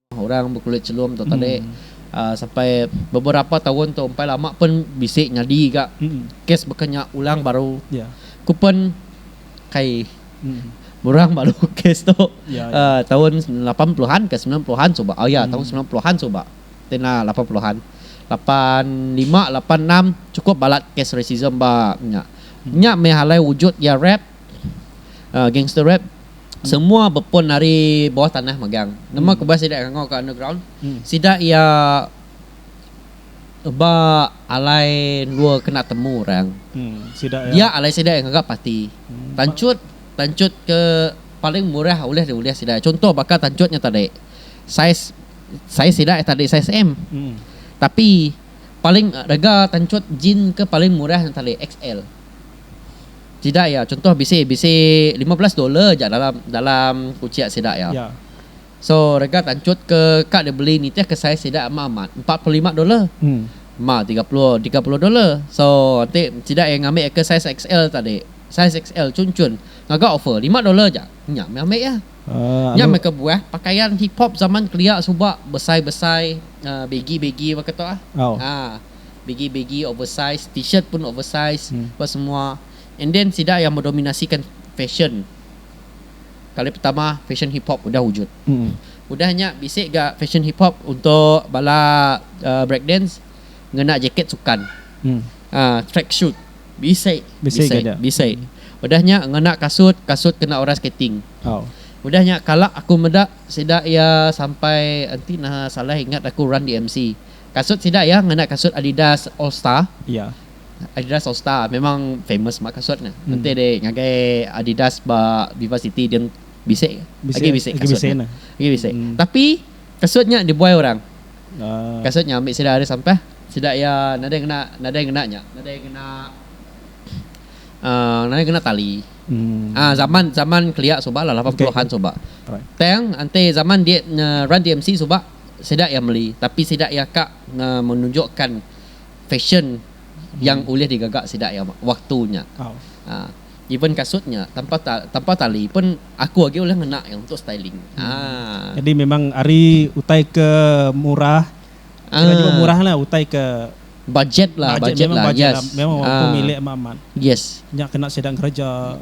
Orang bekulit chelum tu tadi sampai beberapa taun tu empai lama pun bisi nyadi ga kes baka nya ulang baru ku pun kai murang baru kes tu taun lapan puluhan ka sembilan puluhan suba oh ya taun sembilan puluhan suba ti enda lapan puluhan lapan lima lapan enam cukup balat kes racism ba nya nya meh alai wujud iya rap gangster rap. semua bepun ari bawah tanah megang nama ke bah sida ngangau ka underground sida iya ba alai endur kena temu orang dia alai sida ngaga parti tanchut tanchut ke paling murah ulih diulih sida chuntoh baka tanchut nya tadi saiz saiz sida tadi saiz m tapi paling rega tanchut jin ke paling murah nya tadi xl. Sida iya chuntoh bisi bisi lima belas dollar aja dalam dalam kuchek sida iya. Ya. So rega tanchut ke ka dibeli nitih ke saiz sida ama amat empat puluh lima dollar. Hmm. Ma tiga puluh tiga puluh dollar. So ti sida iya ngambi ke saiz XL tadi. Saiz XL chun chun ngaga offer lima dollar aja. Nya meh ambi iya. Uh, Nya meh kebuah pakaian hip hop zaman kelia suba besai besai uh, begi begi baka tu ah. Oh. Ah. begi begi oversize t-shirt pun oversize apa semua and then sida yang mendominasikan fashion kali pertama fashion hip hop udah wujud udah nya bisi ga fashion hip hop untuk bala um break dance ngena jaket sukan um track shoot bisi bisi udah nya ngena kasut kasut kena orang skating udah nya kala aku meda sida iya sampai enti nah salah ingat aku run dmc. Kasut sida iya ngena kasut Adidas All Star. Iya. Adidas All Star memang famous ba kasut ne. Hmm. Enti deh ngagai Adidas ba Viva City dia bisi ke? Bisi, Agi bisi agi kasut bisi ne. ne. Agi bisi. Hmm. Tapi kasut nya dibuai orang. Ah. Kasut nya ambi sida ari sampah. Sida iya nadai ngena nadai ngena nya. Nadai ngena uh, nadai ngena tali. Hmm. Ah zaman zaman kelia suba lah 80-an suba. Alright. Tang enti zaman dia uh, Run DMC suba sida iya meli tapi sida iya ka menunjukkan fashion yang ulih digaga sida iya waktu nya aaa even kasut nya tanpa tanpa tali pun aku agi ulih ngena iya untuk styling aaa. Jadi memang ari utai ke murah kira jua murah lah utai ke budget lah budget lah yes memang waktu milik amat amat yes nya kena sida ngereja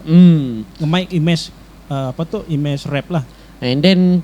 ngemai image apa tu image rap lah and then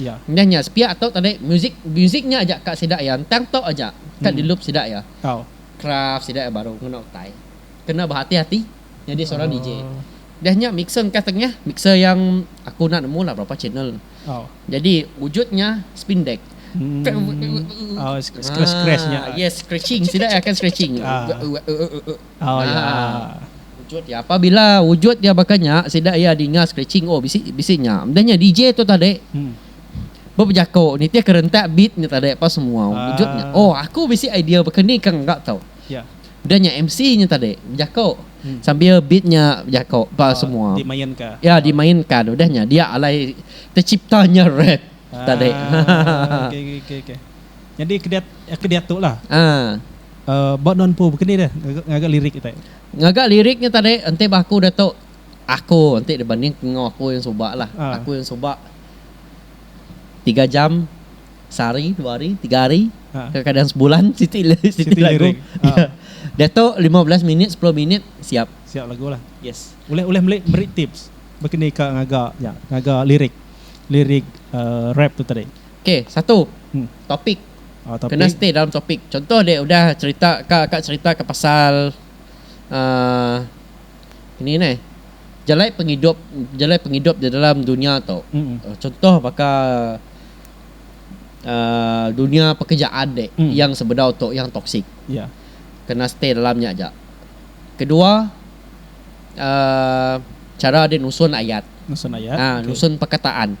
iya. Nyah nya sepiak tu tadi muzik muzik nya aja ka sida iya entang tu aja ka di loop sida iya. Craft sida iya baru ngena utai. Kena behati hati nyadi seorang DJ. Nyah nya mixer engkah tengah mixer yang aku enda nemu lah berapa channel. Jadi wujud nya spin deck. Yes scratching sida iya akan scratching. Nah, wujud iya. Apabila wujud iya baka nya, sida iya dinga scratching, oh bisi bisi nya. Udah nya DJ tu tadi bebejako nitihka rentak beat nya tadi pa semua wujud nya. Oh aku bisi idea baka ni ka engga tau. Udah nya MC nya tadi bejako sambil beat nya bejako pa semua. Iya dimainka udah nya dia alai tercipta nya rap tadi. Haa. Haa. Ba nuan empu bekeni deh ngaga lirik nya tadi? Ngaga lirik nya tadi enti ba aku diatu aku enti dibanding ka enggau aku yang suba lah. Aku yang suba tiga jam sehari dua hari tiga hari kadang kadang sebulan siti siti lagu diatu lima belas minit sepuluh minit siap. Siap lagu lah. Yes. Ulih ulih meli meri tips bekeni ka ngaga nya ngaga lirik lirik rap tu tadi. K, satu, topik. Kena stay dalam topik. Contoh dia udah cerita ka ka cerita ka pasal uh, ini nih jalai pengidup jalai pengidup di dalam dunia tu. Mm-mm. Uh, contoh baka uh, dunia pekerjaan dek mm. yang sebedau tu yang toksik. Yeah. Kena stay dalamnya aja. Kedua uh, cara dia nusun ayat. Nusun ayat. Uh, okay. nusun perkataan.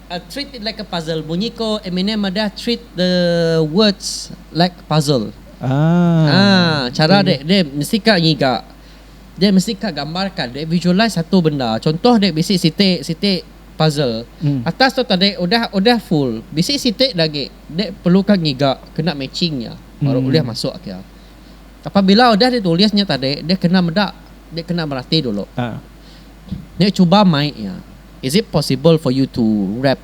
I treat it like a puzzle, bunyi ko Eminem madah treat the words like puzzle. Aa chara dek deh mesti ka ngiga deh mesti ka gambar ka deh visualize satu benda contoh deh bisi siti siti puzzle atas tu tadi udah udah full bisi siti lagi deh perlu ka ngiga kena matching nya baru ulih masuk ke apabila udah di tulis nya tadi deh kena meda deh kena merati dulu deh cuba mai iya. Is it possible for you to rap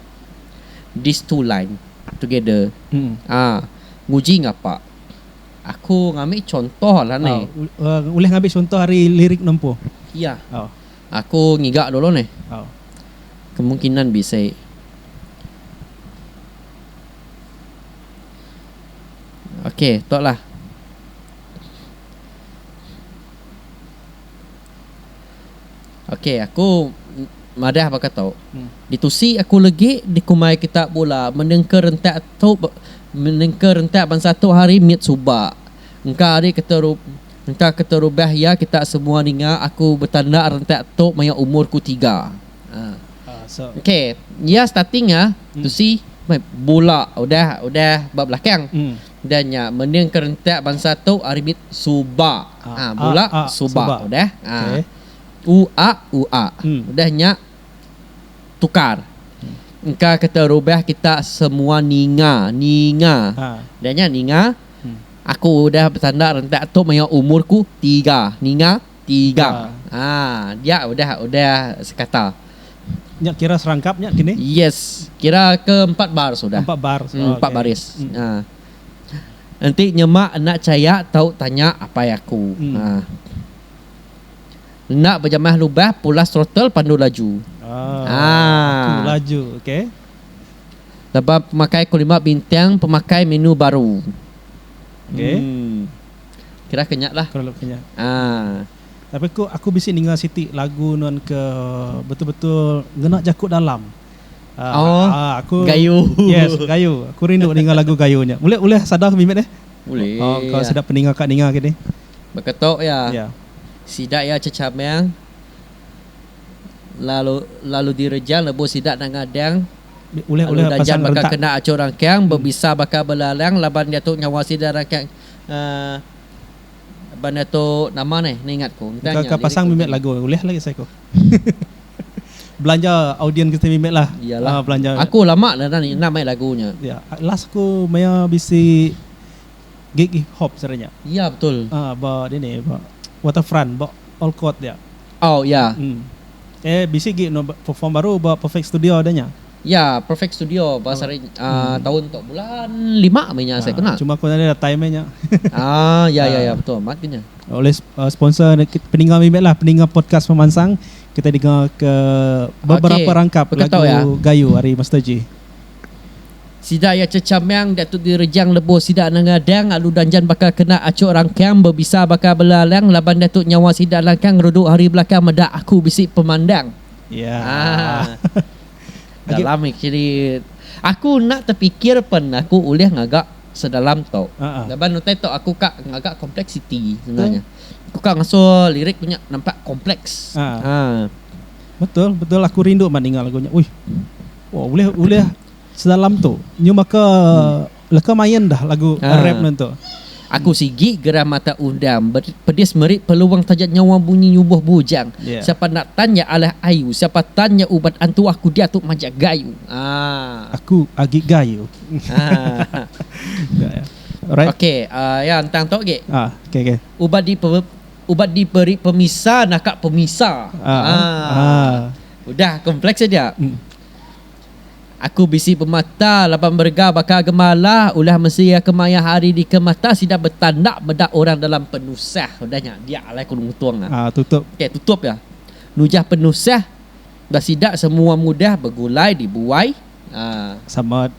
these two line together ah nguji ngapa aku ngambi chontoh lah ni. Oh ulih ngambi chontoh ari lirik nempu. Iya. Oh. Aku ngiga dulu ni. Oh. Kemungkinan bisi. Okay, tu lah. Okey aku madah baka tu. Ditusi aku legi dikumbai kita bula menengka rentak tu menengka rentak bansa tu hari mit suba. Engka ari keteru engka keterubah iya kita semua ninga aku betanda rentak tu maya umur ku tiga. Okey iya starting iya tusi bula udah udah ba belakang. Enda nya mending ke rentak bansa tu ari mit suba ha bula suba udah ha u a u a udah nya tukar engka ke terubah kita semua ninga ninga udah nya ninga aku udah betanda rentak tu maya umur ku tiga ninga. Tiga. Haa dia udah udah sekata. Nya kira serangkap nya kini? Yes kira ke empat bar sudah. Empat bar. Hmm empat baris. Haa. Enti nyema enda chaya tau tanya apai aku. Haa. Enda bejamah lubah pulas throttle pandu laju. Haa. Aku laju okay. Laban pemakai ku lima bintang pemakai menu baru. Okay. Hmm. Kira ke nya lah. Perlu ke nya. Ah. Tapi ku aku bisi ninga siti lagu nuan ke betul betul ngena jaku dalam. Ah, oh, ah, aku gayu. Yes, gayu. Aku rindu ninga lagu gayu nya. Ulih ulih sadar ke mimit eh? Ulih. Oh, kau ya. sedap peninga kak ninga kini. Beketok ya. Ya. Sida ya cecamel. Lalu lalu direjang lebu sida nang adang. Ulih ulih pasang rentak. Kena acur rangkang, hmm. berbisa bakal belalang, laban dia tu nyawa sida rangkang. Um benda tu nama neh ningat ku. Entah nya. Engka ka pasang mimit lagu ulih lagi sai ku. belanja audien kitai mimit lah. Iyalah. Uh, belanja. Aku lama dah ni enam mai lagu nya. Ya, yeah. last ku maya bisi gig hip hop sara nya. Ya, yeah, betul. Ah, uh, ba ni ni ba Waterfront ba All Court dia. Oh, ya. Yeah. Hmm. Eh, bisi gig no perform baru ba Perfect Studio adanya. Ya, perfect studio ba Sarinj uhh taun tu bulan lima meh nya asai ku nah. Cuma ku nadai datai meh nya. Ah ya ya ya betul amat ku nya. Oleh sponsor peninga mih meh lah peninga podcast pemansang kitai denga ke beberapa rangkap lagu gayu ari Master J. Sida iya Checha Meang diatu di Rejang lebuh sida nengah dang alu danjan baka kena achuk rangkang bebisa baka belalang laban diatu nyawa sida langkang rudu hari belakang meda aku bisi pemandang. Ya. Dalam iri aku enda tepikir pen aku ulih ngaga sedalam tu laban utai tu aku ka ngaga kompleksiti ngena nya. Aku ka ngasuh lirik ku nya nampak kompleks. Haa. Betul betul aku rindu amat ninga lagu nya. Uih. Ulih ulih sedalam tu. Nyum baka. Leka main dah lagu rap nuan tu. Aku sigi gerah mata undang pedis meri peluang taja nyawa bunyi nyubuh bujang siapa enda tan nya alah ayu siapa tan nya uban antuah ku diatu majak gayu aa. Aku agi gayu. Ok ya ntang tu agi. Uban di uban di peri pemisa naka pemisa aa. Udah kompleks aja. Aku bisi pemata laban merega baka gemala ulah mesi iya ke maya hari ni ke mata sida betanda meda orang dalam penusah udah nya dia alai ku nguntung nya tutup okay tutup iya nujah penusah ba sida semua mudah begulai dibuai sama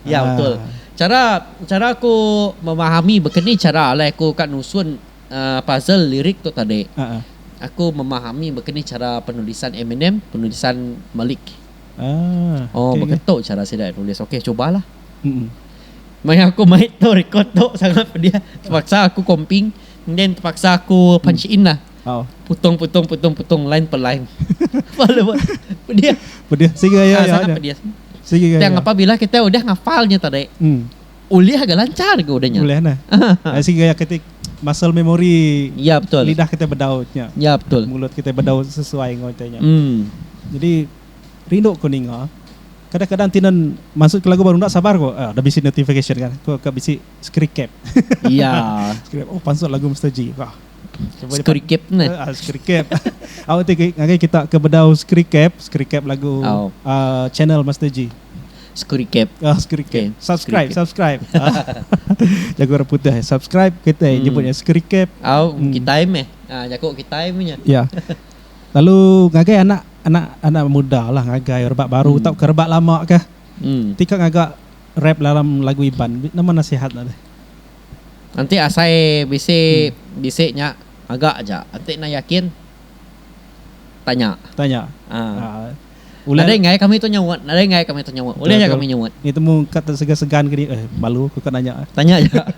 iya betul cara cara ku memahami baka ni cara alai ku ka nusun puzzle lirik tu tadi, aku memahami baka ni chara penulisan Eminem, penulisan Malik. Oh, baka tu chara sida nulis. Okey, chubalah. Maya aku mai tu record tu sangat pedih. Terpaksa aku comping and then terpaksa aku punch in lah. Putung, putung, putung, putung, line per line. Pedih. Pedih. Sangat pedih. Tang apabila kita udah ngafal nya tadi. Ulih ga lanchar ga udah nya. Ulih nah. Ai sigi gaya kati muscle memory ya, betul. lidah kitai bedau nya. Ya, betul. Mulut kitai bedau sesuai enggau kitai nya. Mm. Jadi rindu ku ninga. Kadang-kadang tinan masuk ke lagu baru enda sabar ku. Ah, dah bisi notification kan. Ku ka bisi screen cap. Ya. screen cap. Oh, pansut lagu Mister G. Wah. Screen cap nah. Uh, ah, screen cap. Awak ti ngagai kita ke bedau screen cap, screen cap lagu oh. uh, channel Mister G. Skrikep. Ah, skrikep. Okay. Subscribe, subscribe. Jaku orang putih. Eh. Subscribe kita hmm. nyebutnya skrikep. Au, hmm. kita meh. Ah, jaku kita punya. Ya. Yeah. Lalu ngagai anak anak anak muda lah ngagai rebak baru hmm. tau ke rebak lama ke. Hmm. Tika ngagai rap dalam lagu Iban. Nama nasihat lah deh. Nanti asai bisi hmm. bisi nya agak aja. Nanti nak yakin tanya. Tanya. Ah. Uh. Ulih. Nadai enggai kami tu nyaut. Nadai enggai kami tu nyaut. Ulih aja kami nyaut. Ni temu ka te segan-segan ke ni. Eh balu ku ka nanya. Tanya aja.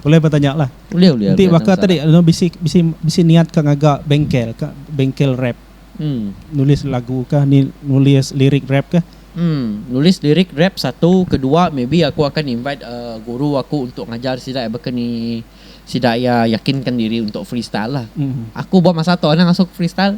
Ulih ba tanya lah. Ulih ulih. Enti baka tadi anu bisi bisi bisi niat ka ngaga bengkel ka bengkel rap. Nulis lagu ka ni nulis lirik rap ka. Nulis lirik rap satu ke dua maybe aku akan invite guru aku untuk ngajar sida baka ni sida iya yakinkan diri untuk freestyle lah. Aku ba masa tu anang asuh freestyle.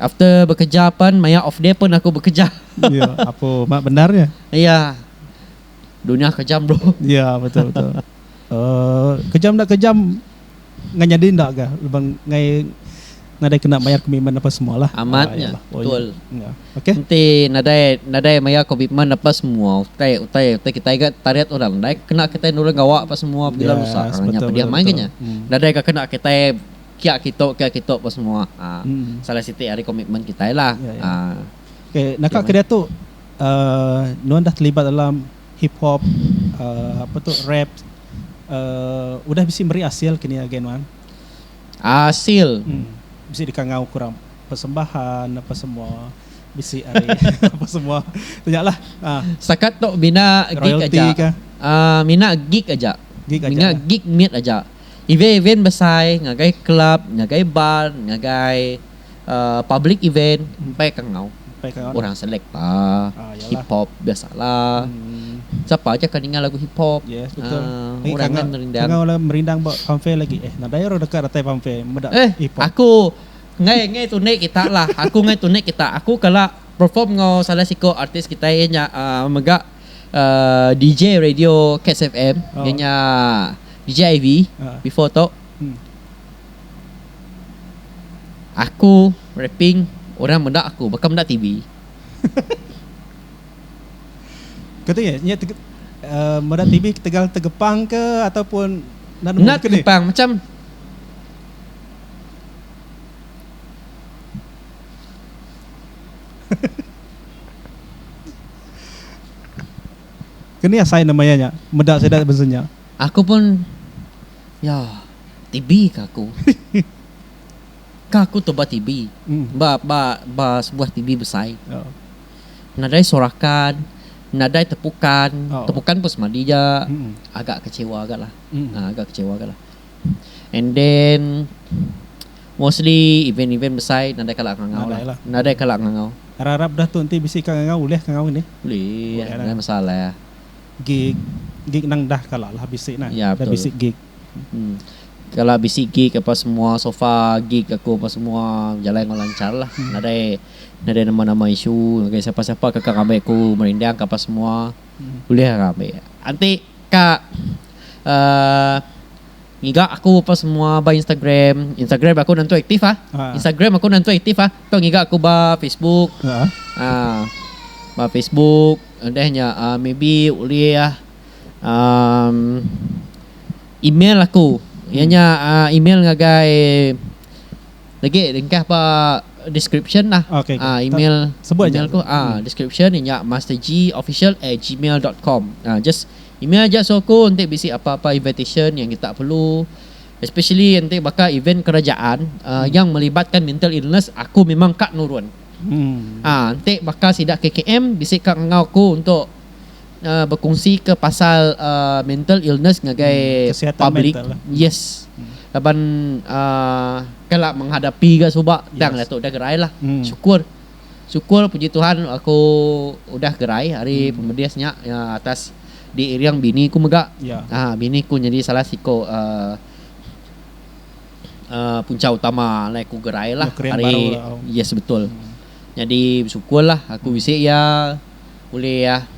After bekeja pen maya off day pun aku bekeja. Ya apo mak bendar nya. Iya. Dunya kejam bro. Ya betul betul. Uh, kejam dak kejam ngan nyadi ndak ga leban ngai nadai kena mayar komitmen apa semua lah. Amat nya. Ah, oh, betul. Ya. Okey. Enti nadai nadai mayar komitmen apa semua utai utai utai kita ga tarit orang nadai kena kita nurun gawa apa semua bila yes, rusak. Betul, Hanya pedih main nya. Hmm. Nadai ga kena kita Kia kitu kia kitu ba semua salah siti ari komitmen kitai lah. Okay naka kediatu nuan dah telibat dalam hip hop apa tu rap udah bisi meri asil ke ni agi nuan? Asil? Bisi deka ngau ke orang persembahan apa semua bisi ari apa semua tu nya lah. Setakat tu bina gig aja. Mina gig aja. Mina gig mit aja. event-event besai ngagai kelab, ngagai bar, ngagai public event empai ka enggau orang selekta, hip hop biasala sapa aja ka ninga lagu hip hop orang nya merindang. Aku ngai ngai tunik kita lah aku ngai tunik kita aku kala perform enggau salah siko artis kitai iya nya mega. err DJ radio Kets FM inya nya DJ Ivy before tu aku rapping orang meda aku baka meda TV. Katu nya nya tege err meda TV ketegal tegepang ke ataupun enda nemu beken nih. Tegepang macam Keni asai nama iya nya meda sida besen nya. Aku pun ya tibi ka aku. Ka aku tu ba tibi ba ba ba sebuah tibi besai. Nadai sorakan nadai tepukan, tepukan pun semadi ja agak kecewa ga lah. Agak kecewa ga lah. And then Mostly event-event besai nadai kala aku ngangau lah. Nadai lah. Nadai kala aku ngangau. Arap-arap dah tu enti bisi ka ngangau ulih ka ngau nih. Ulih, Ulih lah. nadai masalah. Gig gig nang dah kala lah bisi nah. Ya, Dah betul. bisi gig. Hmm. Kala bisi gig apa semua sofa gig aku apa semua bejalai enggau lanchar lah. Nadai nadai nama-nama isu ngagai siapa-siapa ke ka ngambi aku merindang ka apa semua. Ulih ka ngambi. Enti Ka ngiga aku ba semua ba instagram, instagram aku nentu aktif ah, instagram aku nentu aktif ah, ka ngiga aku ba facebook, ba facebook udah nya maybe ulih ah email aku iya nya email ngagai. Lagi ringkas ba description lah email email ku description inya mastergofficial@gmail dot com just email aja suruh aku enti bisi apa apa invitation yang kita perlu especially enti baka event kerajaan yang melibatkan mental illness aku memang ka nurun enti baka sida KKM bisi ka ngau aku untuk Bekungsika pasal mental illness ngagai public yes laban kala menghadapi ga suba tang dato udah gerai lah syukur syukur puji tuhan aku udah gerai ari pemedis nya atas diiring bini ku mega bini ku nyadi salah siko punca utama alai ku gerai lah ari yes betul jadi besyukur lah aku bisi iya. Ulih iya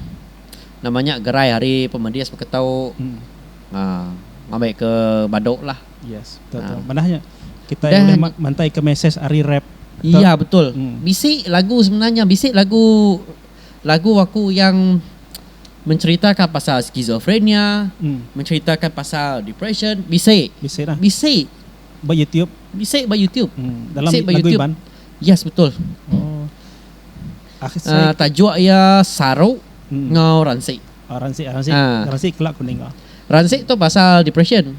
nama nya gerai hari pemedis beketau ngambai ke badu lah. Yes betul tu manah nya kitai ulih mantai ke mesej ari rap. Iya betul bisi lagu sebenarnya bisi lagu lagu aku yang menceritakan pasal schizophrenia menceritakan pasal depression bisi bisi ba youtube bisi ba youtube bisi ba youtube yes betul. Tajuk iya saru enggau ransik. Ransik tu pasal depression.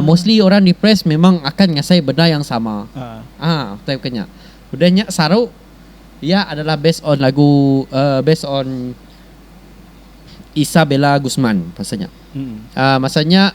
Mostly orang depressed memang akan ngasai benda yang sama. Utai baka nya. Udah nya saru iya adalah based on lagu based on Isabella Guzman pasal nya. Masa nya.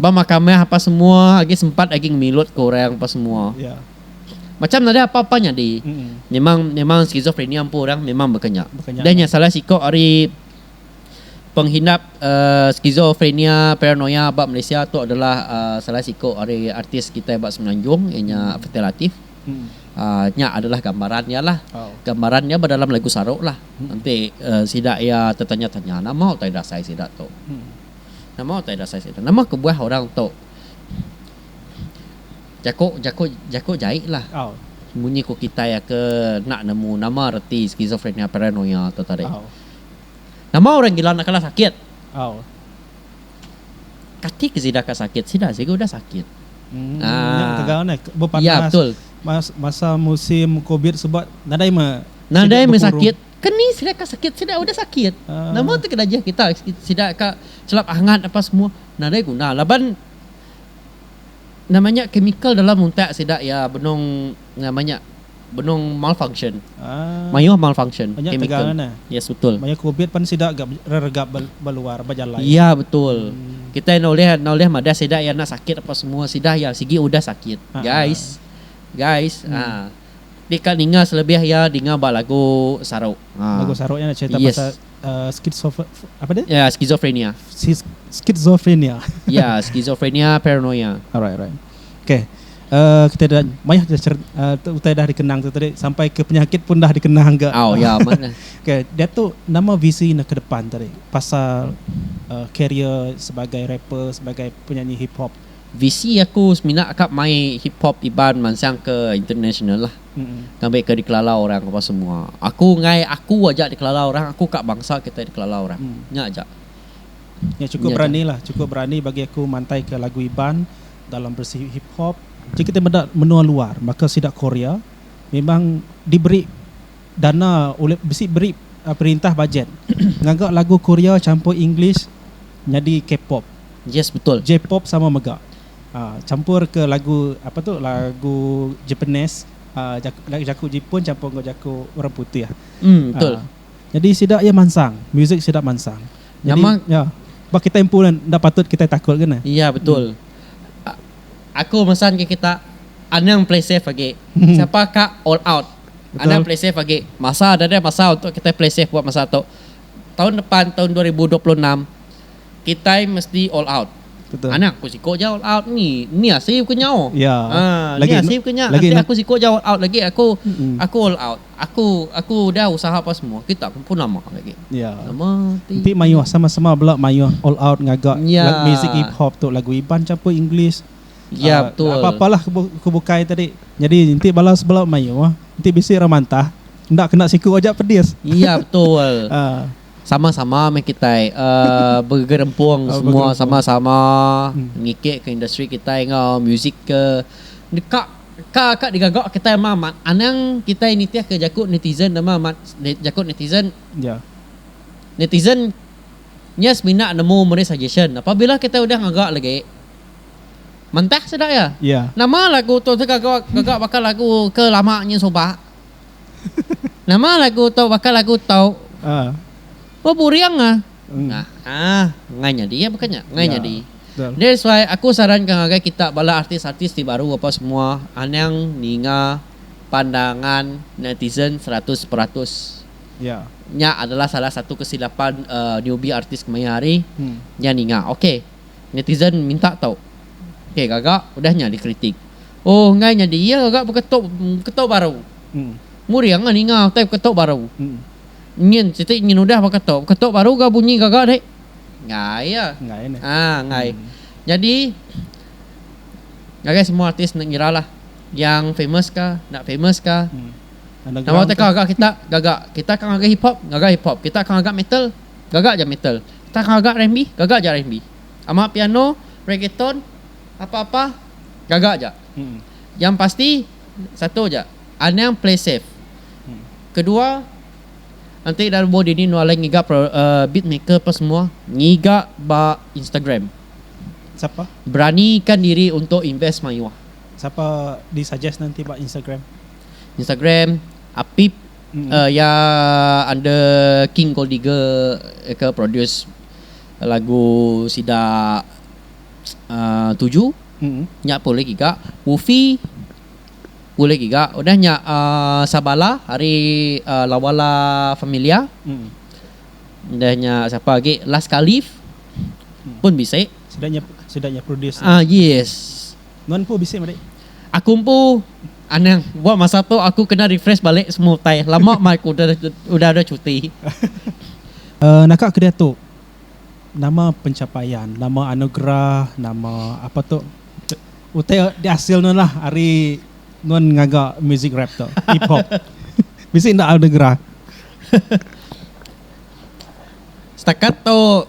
Ba makam meh apa semua agi sempat agi ngemilut ke orang apa semua. Macam nadai apa-apa nyadi. Memang memang skizofrenia empu orang memang baka nya. Udah nya salah siko ari penghindap uhh skizofrenia paranoia ba Malaysia tu adalah uhh salah siko ari artis kitai ba Semenanjung iya nya Fathia Latif. Uhh nya adalah gambaran iya lah. Gambaran iya ba dalam lagu Sarok lah. Enti uhh sida iya tetanya-tanya nama utai dasai sida tu. Nama utai dasai sida? Nama kebuah orang tu jaku jaku jaku jai lah. Munyi ku kitai aka enda nemu nama reti schizophrenia paranoia tu tadi. Nama orang gila enda kala sakit? Kati ke sida ka sakit? Sida sigu udah sakit. Aa. Iya betul. Masa musim covid sebab nadai mah. Nadai mah sakit. Keni sida ka sakit sida udah sakit nama tu kedajah kita sida ka chelap angat apa semua nadai guna laban nama nya chemical dalam untak sida iya benung nama nya benung malfunction mayuh malfunction chemical yes betul mayuh covid pan sida ga reregap ba luar ba jalai iya betul kita enda ulih enda ulih madah sida iya enda sakit apa semua sida iya sigi udah sakit guys guys aa. Ti ka ninga selebih iya dinga ba lagu Sarok. Lagu Sarok nya cherita pasal schizophre Ya, schizophrenia. Schizophrenia. Ya, schizophrenia, paranoia. Alright, alright. Okay. Kita dah mayah utai dah dikenang tu tadi sampai ke penyakit pun dah dikenang ga. Au, ya meh. Okay, diatu nama visi enda ke depan tadi pasal career sebagai rapper, sebagai penyanyi hip hop? Visi aku semina ka mai hip hop Iban mansang ke international lah ngambi ke dikelala orang apa semua. Aku enggai aku aja dikelala orang aku ka bangsa kitai dikelala orang. Nya aja. Nya chukup berani lah chukup berani bagi aku mantai ke lagu Iban dalam berisi hip hop. Ji kita meda menua luar baka sida Korea memang diberi. Dana ulih bisi beri perintah bajet ngaga lagu Korea champur English nyadi K-pop. Yes betul. J-pop sama mega. Champur ke lagu apa tu lagu Japanese lagu jaku Jepun champur enggau jaku orang putih. Betul. Nyadi sida iya mansang, muzik sida mansang. Nyadi iya ba kitai empu enda patut kitai takut ke nah. Iya betul. Aku mesan ke kita anang play safe agi. Siapa ka all out. Anak Pelisev agi masa dah ada masa untuk kitai Pelisev buat masa tu. Taun depan taun dua ribu dua puluh enam kitai mesti all out. Anak aku siko ja all out ni ni asi ku nyau aaa ni asi ku nya enti aku siko ja all out lagi aku aku all out aku aku udah usaha apa semua kita pun pun lama lagi lama ti mayuh sama sama bela mayuh all out ngaga music hip hop tu lagu iban campur english. Ya betul. Apa-apa lah ke bukai tadi. Nyadi enti bala sebela mayuh enti bisi orang mantah enda kena siku aja pedis. Ya betul. Sama-sama meh kitai begerempung semua sama-sama ngikit ke industri kitai enggau music ke deka ka ka digaga kitai ama amat. Anang kitai nitih ke jaku netizen ama amat jaku netizen. Ya. Netizen nya semina nemu meri suggestion. Apabila kitai udah ngaga lagi. Mentah sida iya. Iya. Nama lagu tu sega gaga baka lagu ke lama nyin suba. Nama lagu tu baka lagu tu. Ah. Beburing ah. Hmm. Nah, ha, ngai nyadi ya bukan nya. Ngai ya. nyadi. Betul. That's why aku saranka ngagai kita bala artis-artis ti baru apa semua anang ninga pandangan netizen seratus peratus. Ya. Nya adalah salah satu kesilapan uh, newbie artis kemaya hari. Hmm. Nya ninga. Okey. Netizen minta tau. Okey gaga udah nya dikritik. Oh enggai nyadi iya gaga beketok beketok baru. Muring ah ninga utai beketok baru. Nyin siti nyin udah beketok beketok baru ga bunyi gaga deh. Enggai iya. Ah enggai. Nyadi ngagai semua artis enda ngira lah yang famous ka enda famous ka. Nama teka gaga kita gaga kita ka ngagai hip hop gaga hip hop kita ka ngaga metal. gaga ja metal. Tang gaga RMB, gaga ja RMB. Ama piano, reggaeton, apa-apa gaga ja. Yang pasti satu ja, anang play safe. Kedua, enti enda lebuh dini enda alai ngiga beat maker apa semua, ngiga ba Instagram. Sapa? Beranikan diri untuk invest mayuh. Sapa di suggest ne enti ba Instagram? Instagram, Apip. Iya under King Gold Digger ke produce lagu sida Tuju nya pun ulih giga. Ufi ulih giga. Udah nya Sabala ari Lawa La Familia. Udah nya sapa agi Last Khalif pun bisi. Sida nya produce. Yes. Nuan empu bisi madi. Aku empu anang ba masa tu aku kena refresh balik semua utai lama mah aku udah ada cuti. Naka ke diatu nama pencapaian nama anugerah nama apa tu utai diasil nuan lah ari nuan ngaga music rap tu hip hop bisi enda anugerah. Setakat tu.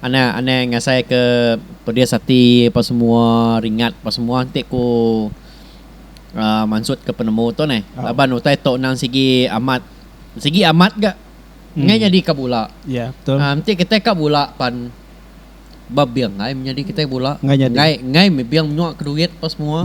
Anak anai ngasai ke pedis ati apa semua ringat apa semua enti ku um mansut ke penemu tu neh laban utai tu endang sigi amat sigi amat ga ngai nyadi ka bula um enti kitai ka bula pan bebing ai menyadi kitai bula ngai ngai bebing menyua ke duit apa semua.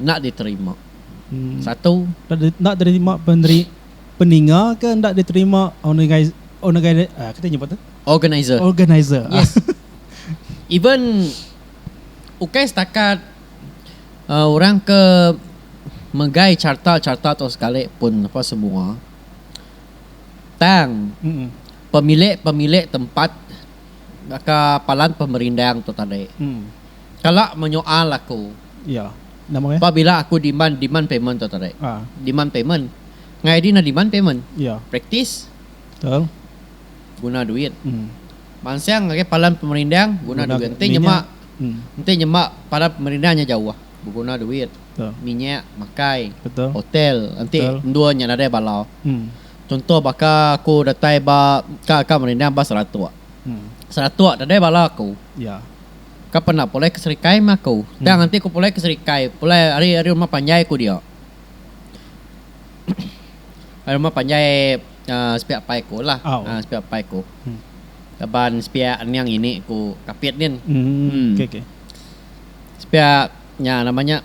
enda diterima. Satu. Enda diterima peneri peninga ke enda diterima ornigai ornigai ah kita nyebut tu. Organizer. Organizer. Yes. Even ukai setakat uh, orang ke megai carta-carta tu sekali pun apa semua. Tang Mm-mm. pemilik-pemilik tempat baka palan pemerindang tu tadi. Mm. Kala menyoal aku. Ya. Nama ngai? Pabila aku diman demand payment tu tadi. Ha. Demand payment. Ngai di na demand payment. Ya. Praktis. Betul. Guna duit. Hmm. Mansang ngagai palan pemerindang guna, guna duit. Enti nyema hmm. enti nyema palan pemerindang nya jauh beguna duit. Betul. Minyak makai. Betul. Hotel enti endur nya nadai bala. Hmm. Contoh baka aku datai ba ka ka merindang ba Seratok. Hmm. Seratok nadai bala aku. Ya. Ka pernah pulai ke Serikai meh aku. Tang hmm. enti ku pulai ke Serikai, pulai ari ari rumah panjai ku dia. Ari rumah panjai uh, sepiak pai ku lah. Oh. Uh, sepiak pai ku. Hmm. Laban sepiak ni yang ini ku kapit ni. Hmm. hmm. Okay, okay. Sepiak nya namanya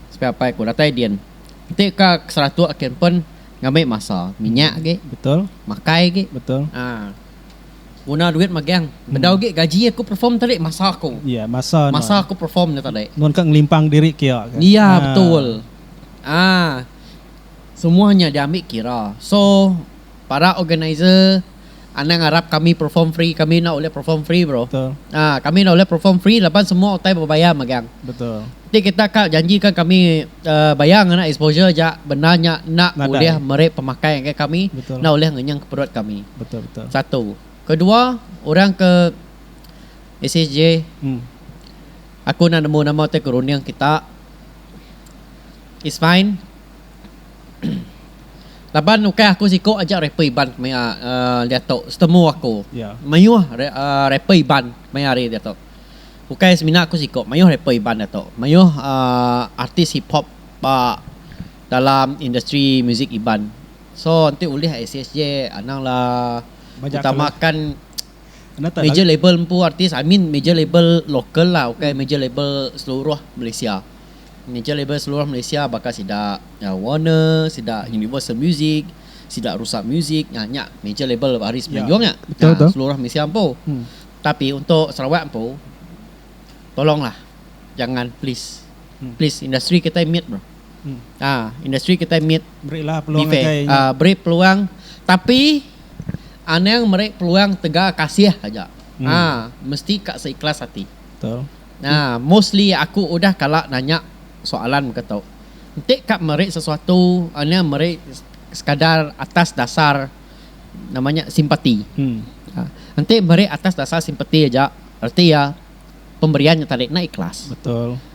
sepiak pai ku datai din. Enti ka keseratuk kin pun ngambil masa. Minyak hmm. lagi. Betul. Makai lagi. Betul. Ah. Uh. Guna duit magang. Bedau agi gaji aku perform tadi masa aku. Iya masa nuan. Masa aku perform nya tadi. Nuan ka ngelimpang diri kia ka. Iya betul. Aa semua nya diambi kira. So para organizer anang arap kami perform free kami enda ulih perform free bro. Betul. Aa kami enda ulih perform free laban semua utai bebayar magang. Betul. Ti kita ka janji ka kami bayar ngena exposure ja benda nya enda ulih meri pemakai ngagai kami enda ulih ngenyeng ka perut kami satu kedua orang ke SSJ aku enda nemu nama ti ke runding kita is fine laban ukai aku siko aja rapper iban maya diatu setemu aku mayuh rapper iban maya hari diatu. Ukai semina ku siko maioh rapper iban da to. Maioh artis hip hop ba dalam industri musik iban. So enti ulih ACSJ anang la utamakan major label empu artis I mean major label local la ukai major label seluruh Malaysia. Major label seluruh Malaysia baka sida Warner sida Universal Music sida Rusak Music nya major label ari semenanjung nya seluruh Malaysia empu. Tapi untuk Sarawak empu tolonglah jangan please please industri kitai mit bro aa industri kitai mit be fair aa beri peluang tapi anang meri peluang tega kasih aja aa mesti ka seikhlas ati aa mostly aku udah kala nanya soalan mega tu enti ka meri sesuatu anang meri sekadar atas dasar. nama nya simpati. Enti meri atas dasar simpati aja reti iya pemberian nya tadi enda ikhlas.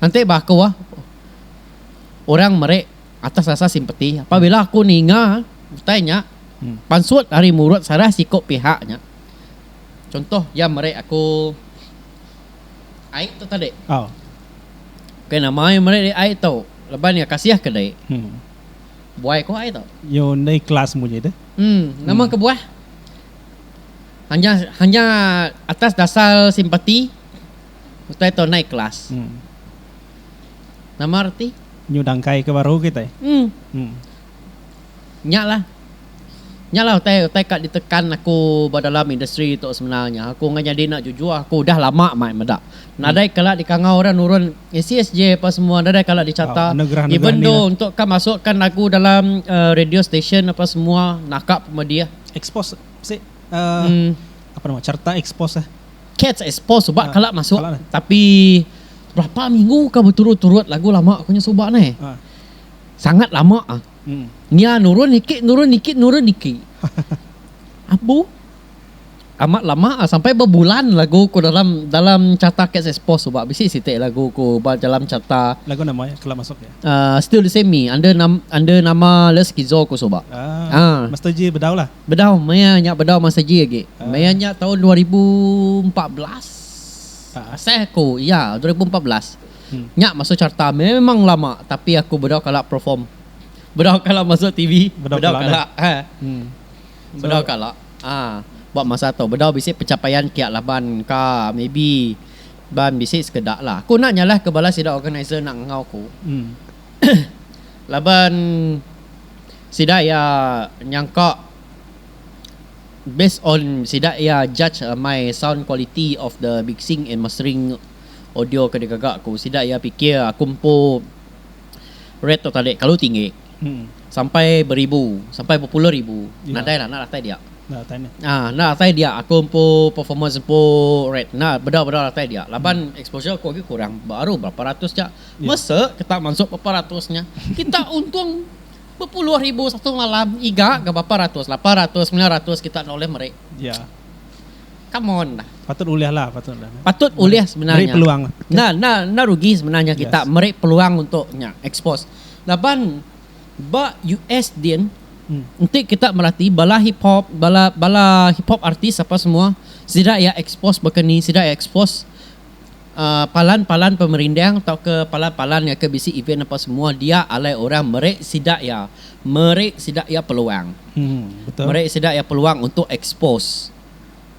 Enti ba aku orang meri atas dasar simpati pabila aku ninga utai nya pansut ari mulut salah siku pihak nya contoh iya meri aku ai tu tadi nama iya meri ai tu leban iya kasih ke diri. Buai ko ai tu. Nyo ndai kelas munyi deh. Em nama kebuah hanya hanya atas dasar simpati utai tau nai kelas. Nama reti. Nyu dangkai ke baru kitai. Em nya lah nya lah utai utai ka ditekan aku ba dalam industri tu sebenarnya aku ngai nyadi enda jujur aku udah lama mai meda. Nadai kala dikangau orang nurun SCSJ apa semua nadai kala dichata even though untuk ka masuk kan lagu dalam radio station apa semua naka pun madi ah. Expose sik apa nama cherta expose ah. Cats expose suba kala masuk tapi berapa minggu ka beturut turut lagu lama ku nya suba neh. Sangat lama ah. Nya nurun ikit nurun ikit nurun ikit. Abu. Amat lama sampai bebulan lagu ku dalam dalam carta KSS post tu ba bisi siti lagu ku ba dalam carta. Lagu nama iya kela masuk iya? Uh, still the same me under nam, under nama le skizo ku suba. Ah. Uh. Master G bedau lah. Bedau maya nya bedau Master G agi. Uh. Maya nya tahun 2014. Uh. Asal aku iya 2014. Hmm. Nya masuk carta memang lama tapi aku bedau kala perform. Bedau kala masuk TV, bedau, bedau kala. kala. Ha. Hmm. Bedau kala ba masa tu bedau bisi pencapaian kiak laban ka maybe ban bisi sekeda lah aku enda nyalah ke bala sida organizer enda enggau aku laban sida iya nyangka based on sida iya judge my sound quality of the mixing and mastering audio ke digaga aku sida iya pikir aku empu rate tu tadi kelalu tinggi. Sampai beribu, sampai bepuluh ribu nadai lah enda datai dia. Enda datai dia aku empu performance empu rate enda bedau bedau datai dia laban exposure aku agi kurang baru berapa ratus ja mese kita masuk berapa ratus nya kita untung bepuluh ribu satu malam iga ga berapa ratus lapan ratus semilan ratus kita enda ulih meri come on lah patut ulih sebenarnya enda enda rugi sebenarnya kita meri peluang untuk nya expose Laban ba US din enti kita merati bala hip hop bala bala hip hop artis apa semua sida iya expose baka ni sida iya expose uhh palan palan pemerindang tauka palan palan iya ke bisi event apa semua dia alai orang meri sida iya meri sida iya peluang meri sida iya peluang untuk expose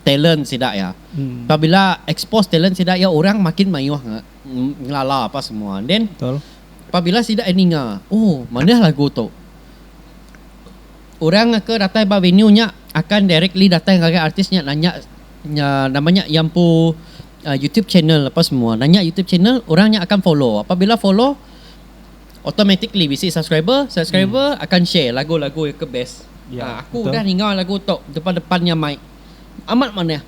talent sida iya pabila expose talent sida iya orang makin mayuh nya. ngelala apa semua and then Betul. pabila sida ninga oh manah lagu tu orang ke datai ba venue nya akan directly datai ngagai artis nya nanya nya nama nya iya empu uh, YouTube channel apa semua nanya YouTube channel orang nya akan follow apabila follow automatically bisi subscriber subscriber hmm. akan share lagu-lagu yang ke best ya, uh, aku betul. udah ninga lagu tu depan-depannya mic amat manah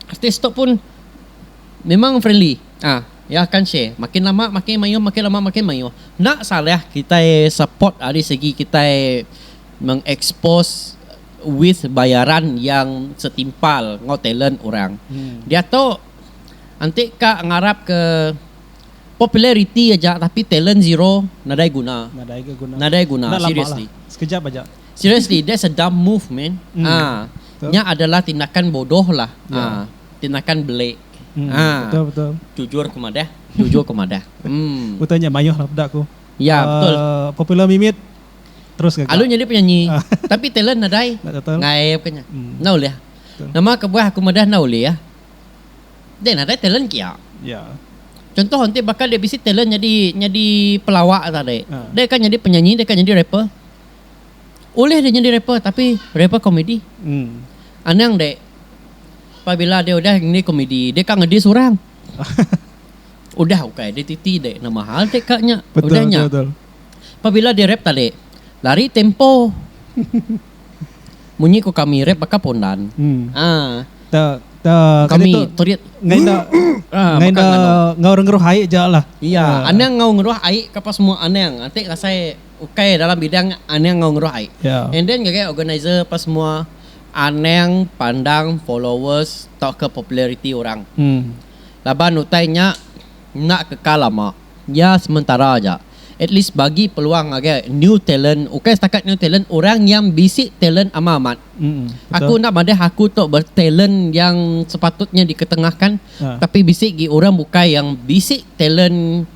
Artis tu pun memang friendly. Ah, ya akan share. Makin lama makin mayuh, makin lama makin mayuh. Enda salah kitai support ari segi kitai mengekspos with bayaran yang setimpal enggau talent orang. Diatu enti ka ngarapka populariti aja tapi talent zero nadai guna. Nadai guna. Nadai guna seriously. Sekejap aja. Seriously that's a dumb move man ah nya adalah tindakan bodoh lah ah tindakan belik ah jujur ke madah jujur ke madah mm ya betul alu nyadi penyanyi tapi talent nadai ngaip ke nya enda ulih nama kebuah aku madah enda ulih dia nadai talent kia contoh enti baka dia bisi talent nyadi nyadi pelawak tadi dia ka nyadi penyanyi dia ka nyadi rapper Ulih deh nyadi rapper tapi rapper komedi. Hmm. Anang deh pabila deh udah nyadi komedi deh ka ngedis orang. udah ukai deh titi deh nama hal deh ka nya. Betul, udah nya. Betul, betul. Pabila deh rap tadi lari tempo. Munyi ku kami rap baka pondan. Hmm. Ah. Ta ta kami terit ngai da ngai da ngau ngeruh ai ja lah. Iya, anang ngau ngeruh ai ka pa semua anang. Ati kasai ukai dalam bidang anang enggau ngeruh ai yeah. and then ngagai organizer apa semua anang pandang followers tauka populariti orang hmm. laban utai nya enda kekal lama iya sementara aja at least bagi peluang ngagai new talent ukai setakat new talent orang yang bisi talent amat amat hmm. aku enda madah aku tu bertalent yang sepatutnya diketengahkan yeah. tapi bisi gi orang bukai yang bisi talent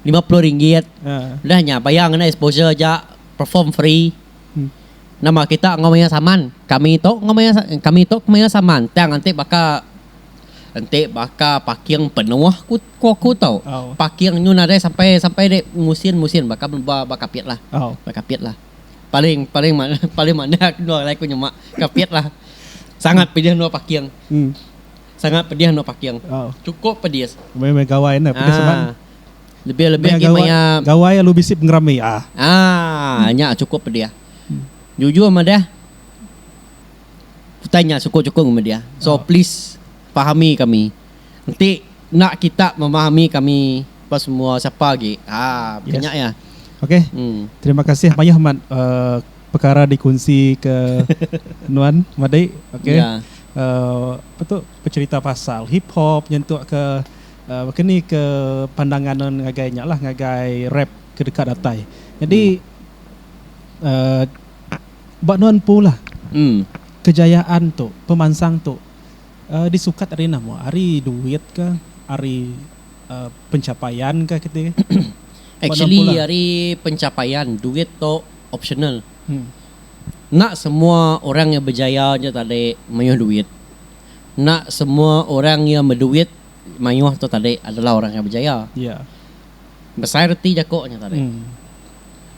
lima puluh ringgit udah nya bayar ngena exposure aja perform free nama kita enggau mayar saman kami tu enggau mayar kami tu mayar saman tang enti baka enti baka parking penuh ku aku tu parking nyun nadai sampai sampai ri musin musin baka ba kapit lah ba kapit lah paling paling paling manah aku nyema kapit lah sangat pedih endur parking. Sangat pedih anu paking. Oh. Cukup pedis. Meh meh gawai ne pedis seban. Ah. Lebih lebih agi maya gawai alu bisi pengerami ah. Ah nya cukup pedih. Jujur madah utai nya suku suku ngan media. So oh. please pahami kami. Enti nak kita memahami kami apa semua siapa agi. Ah yes. nya ya. Okey. Hmm. Terima kasih mayuh mat uh, eh, perkara dikunsi ke nuan madai. Okey. Yeah. Apa tu pecerita pasal hip hop nyentuk ke baka ni ke pandangan nuan ngagai nya lah ngagai rap ke deka datai. Nyadi ba nuan empu lah kejayaan tu pemansang tu disukat ari enda mua ari duit ka ari pencapaian ka keti. Actually ari pencapaian duit tu optional Enda semua orang iya bejaya nya tadi mayuh duit. Enda semua orang iya beduit mayuh tu tadi adalah orang iya bejaya. Yeah. Besai reti jaku nya tadi. Mm.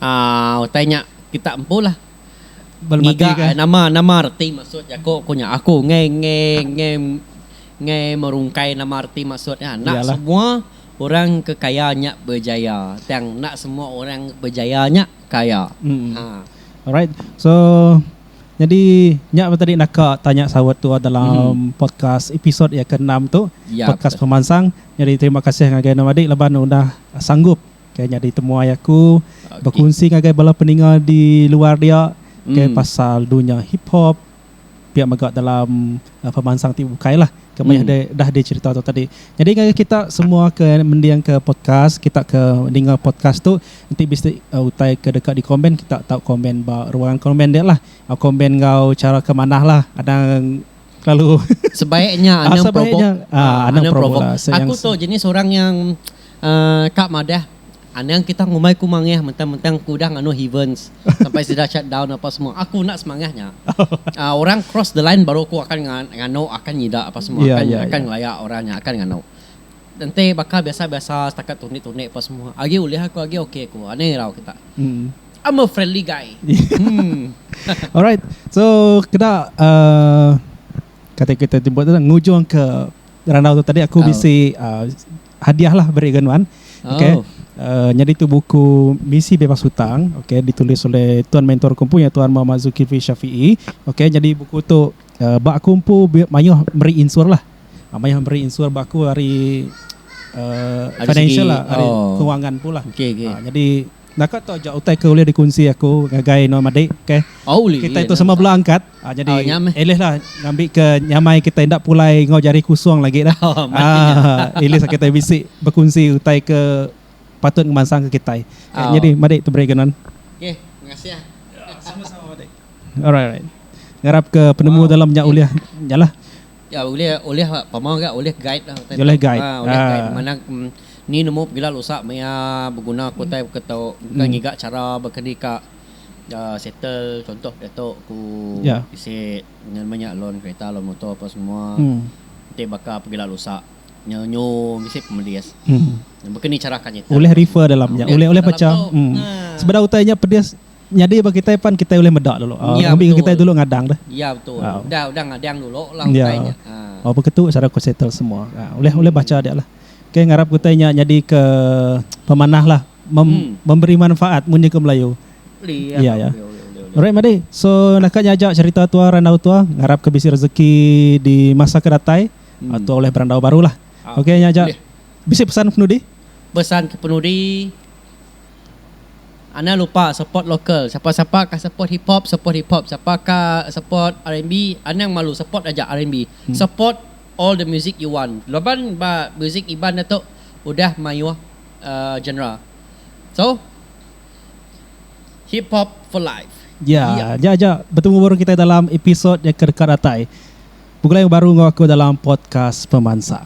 Uh, utai nya kita empulah ngiga eh, nama nama reti maksud jaku aku nya aku ngai ngai ngai ngai merungkai nama reti maksud nya nak semua orang ke kaya nya berjaya tang nak semua orang berjaya nya kaya. Haa. Alright so jadi nya mah tadi naka tanya saut tua dalam podcast episode ya ke enam tu podcast pemansang jadi terima kasih ngagai enda madi laban udah sanggup ke nyadi temuai aku bekunsi ngagai bala peninga di luar dia ke pasal dunya hiphop. pia mega dalam pemansang ti bukai lah ke meh deh dah di cerita tu tadi. Jadi ngagai kita semua ke mending ke podcast kita ke ninga podcast tu enti bisi utai ke deka di komen kita tau komen ba ruang komen dia lah komen enggau cara ke manah lah anang kelalu sebaiknya anang provoke anang provoke aku tu jenis orang yang Ka madah, anang kita ngumbai ku mangah mentang-mentang aku udah nganu heavens sampai sida shut down apa semua. Aku enda semangah nya. Orang cross the line baru aku akan nganu akan nyida apa semua akan akan ngelaya orang nya akan nganu. Enti baka biasa-biasa setakat tunik-tunik apa semua agi ulih aku agi okay aku. Anang irau kita. I'm a friendly guy. Alright. So keda kata kita ti buat ngujung ke randau tu tadi aku bisi Hadiah lah beri ga nuan. Okay. Oh. Uh, nyadi tu buku Misi Bebas Hutang. Okay. Ditulis oleh Tuan Mentor Kumpu yang Tuan Muhammad Zulkifli Syafi'i. Okay. Nyadi buku tu uh, eh, bak kumpu mayuh meri insur lah. Uh, mayuh meri insur bak aku hari uh, financial segi, lah. Hari oh. kewangan pula. Okay, okay. Uh, jadi Naka tu aja utai ke ulih dikunsi aku ngagai nuan madi okay. Kitai tu sama bela angkat jadi at least lah ngambi ke nyamai kitai enda pulai enggau jari kusung lagi dah. At least kitai bisi bekunsi utai ke patut ngemansang ke kitai. Nyadi madi tu brega nuan. Okay mengasih. Sama sama madi. Alright alright. Ngarap ke penemu dalam nya ulih nya lah. Ya ulih ulih pama ga ulih guide lah utai ulih guide ha ulih guide ha. manah ni nemu pegila lusa meh iya beguna ku utai ke tu engka ngiga chara baka ni ka settle contoh diatu ku bisi nya nama nya loan kereta loan motor apa semua ti baka pegila lusa nyu nyu bisi pemedis baka ni chara ka nyetel ulih refer dalam nya ulih ulih pecah sebedau utai nya pedis. Nyadi ba kitai pan kitai ulih meda dulu. Nya Ngambi ke kitai betul. dulu ngadang dah. Iya betul. Au. Udah udah ngadang dulu lah Iya. utai nya. Ha. Au baka tu cara ku settle semua. Ha ulih ulih bacha Hmm. dia lah. Okay ngarap ke utai nya nyadi ke pemanah lah mem, Hmm. memberi manfaat munyi ke Melayu. Ulih iya Iya, ka. iya. Ulih ulih ulih ulih. Alright Madi. So naka nya aja cherita tua randau tua. Ngarap ke bisi rezeki di masa ke datai. Hmm. Au tua ulih berandau baru lah. Ah, Okay nya aja. Ulih. Bisi pesan penudi? Pesan ke penudi Anang lupa support local sapa sapa ka support hip hop support hip hop sapa ka support rnb anang malu support aja rnb support all the music you want laban ba music iban da tu udah mayuh genre so hip hop for life. Ya, nya aja betemu baru kita dalam episode nya ke deka datai. Begulai baru enggau aku dalam podcast pemansang.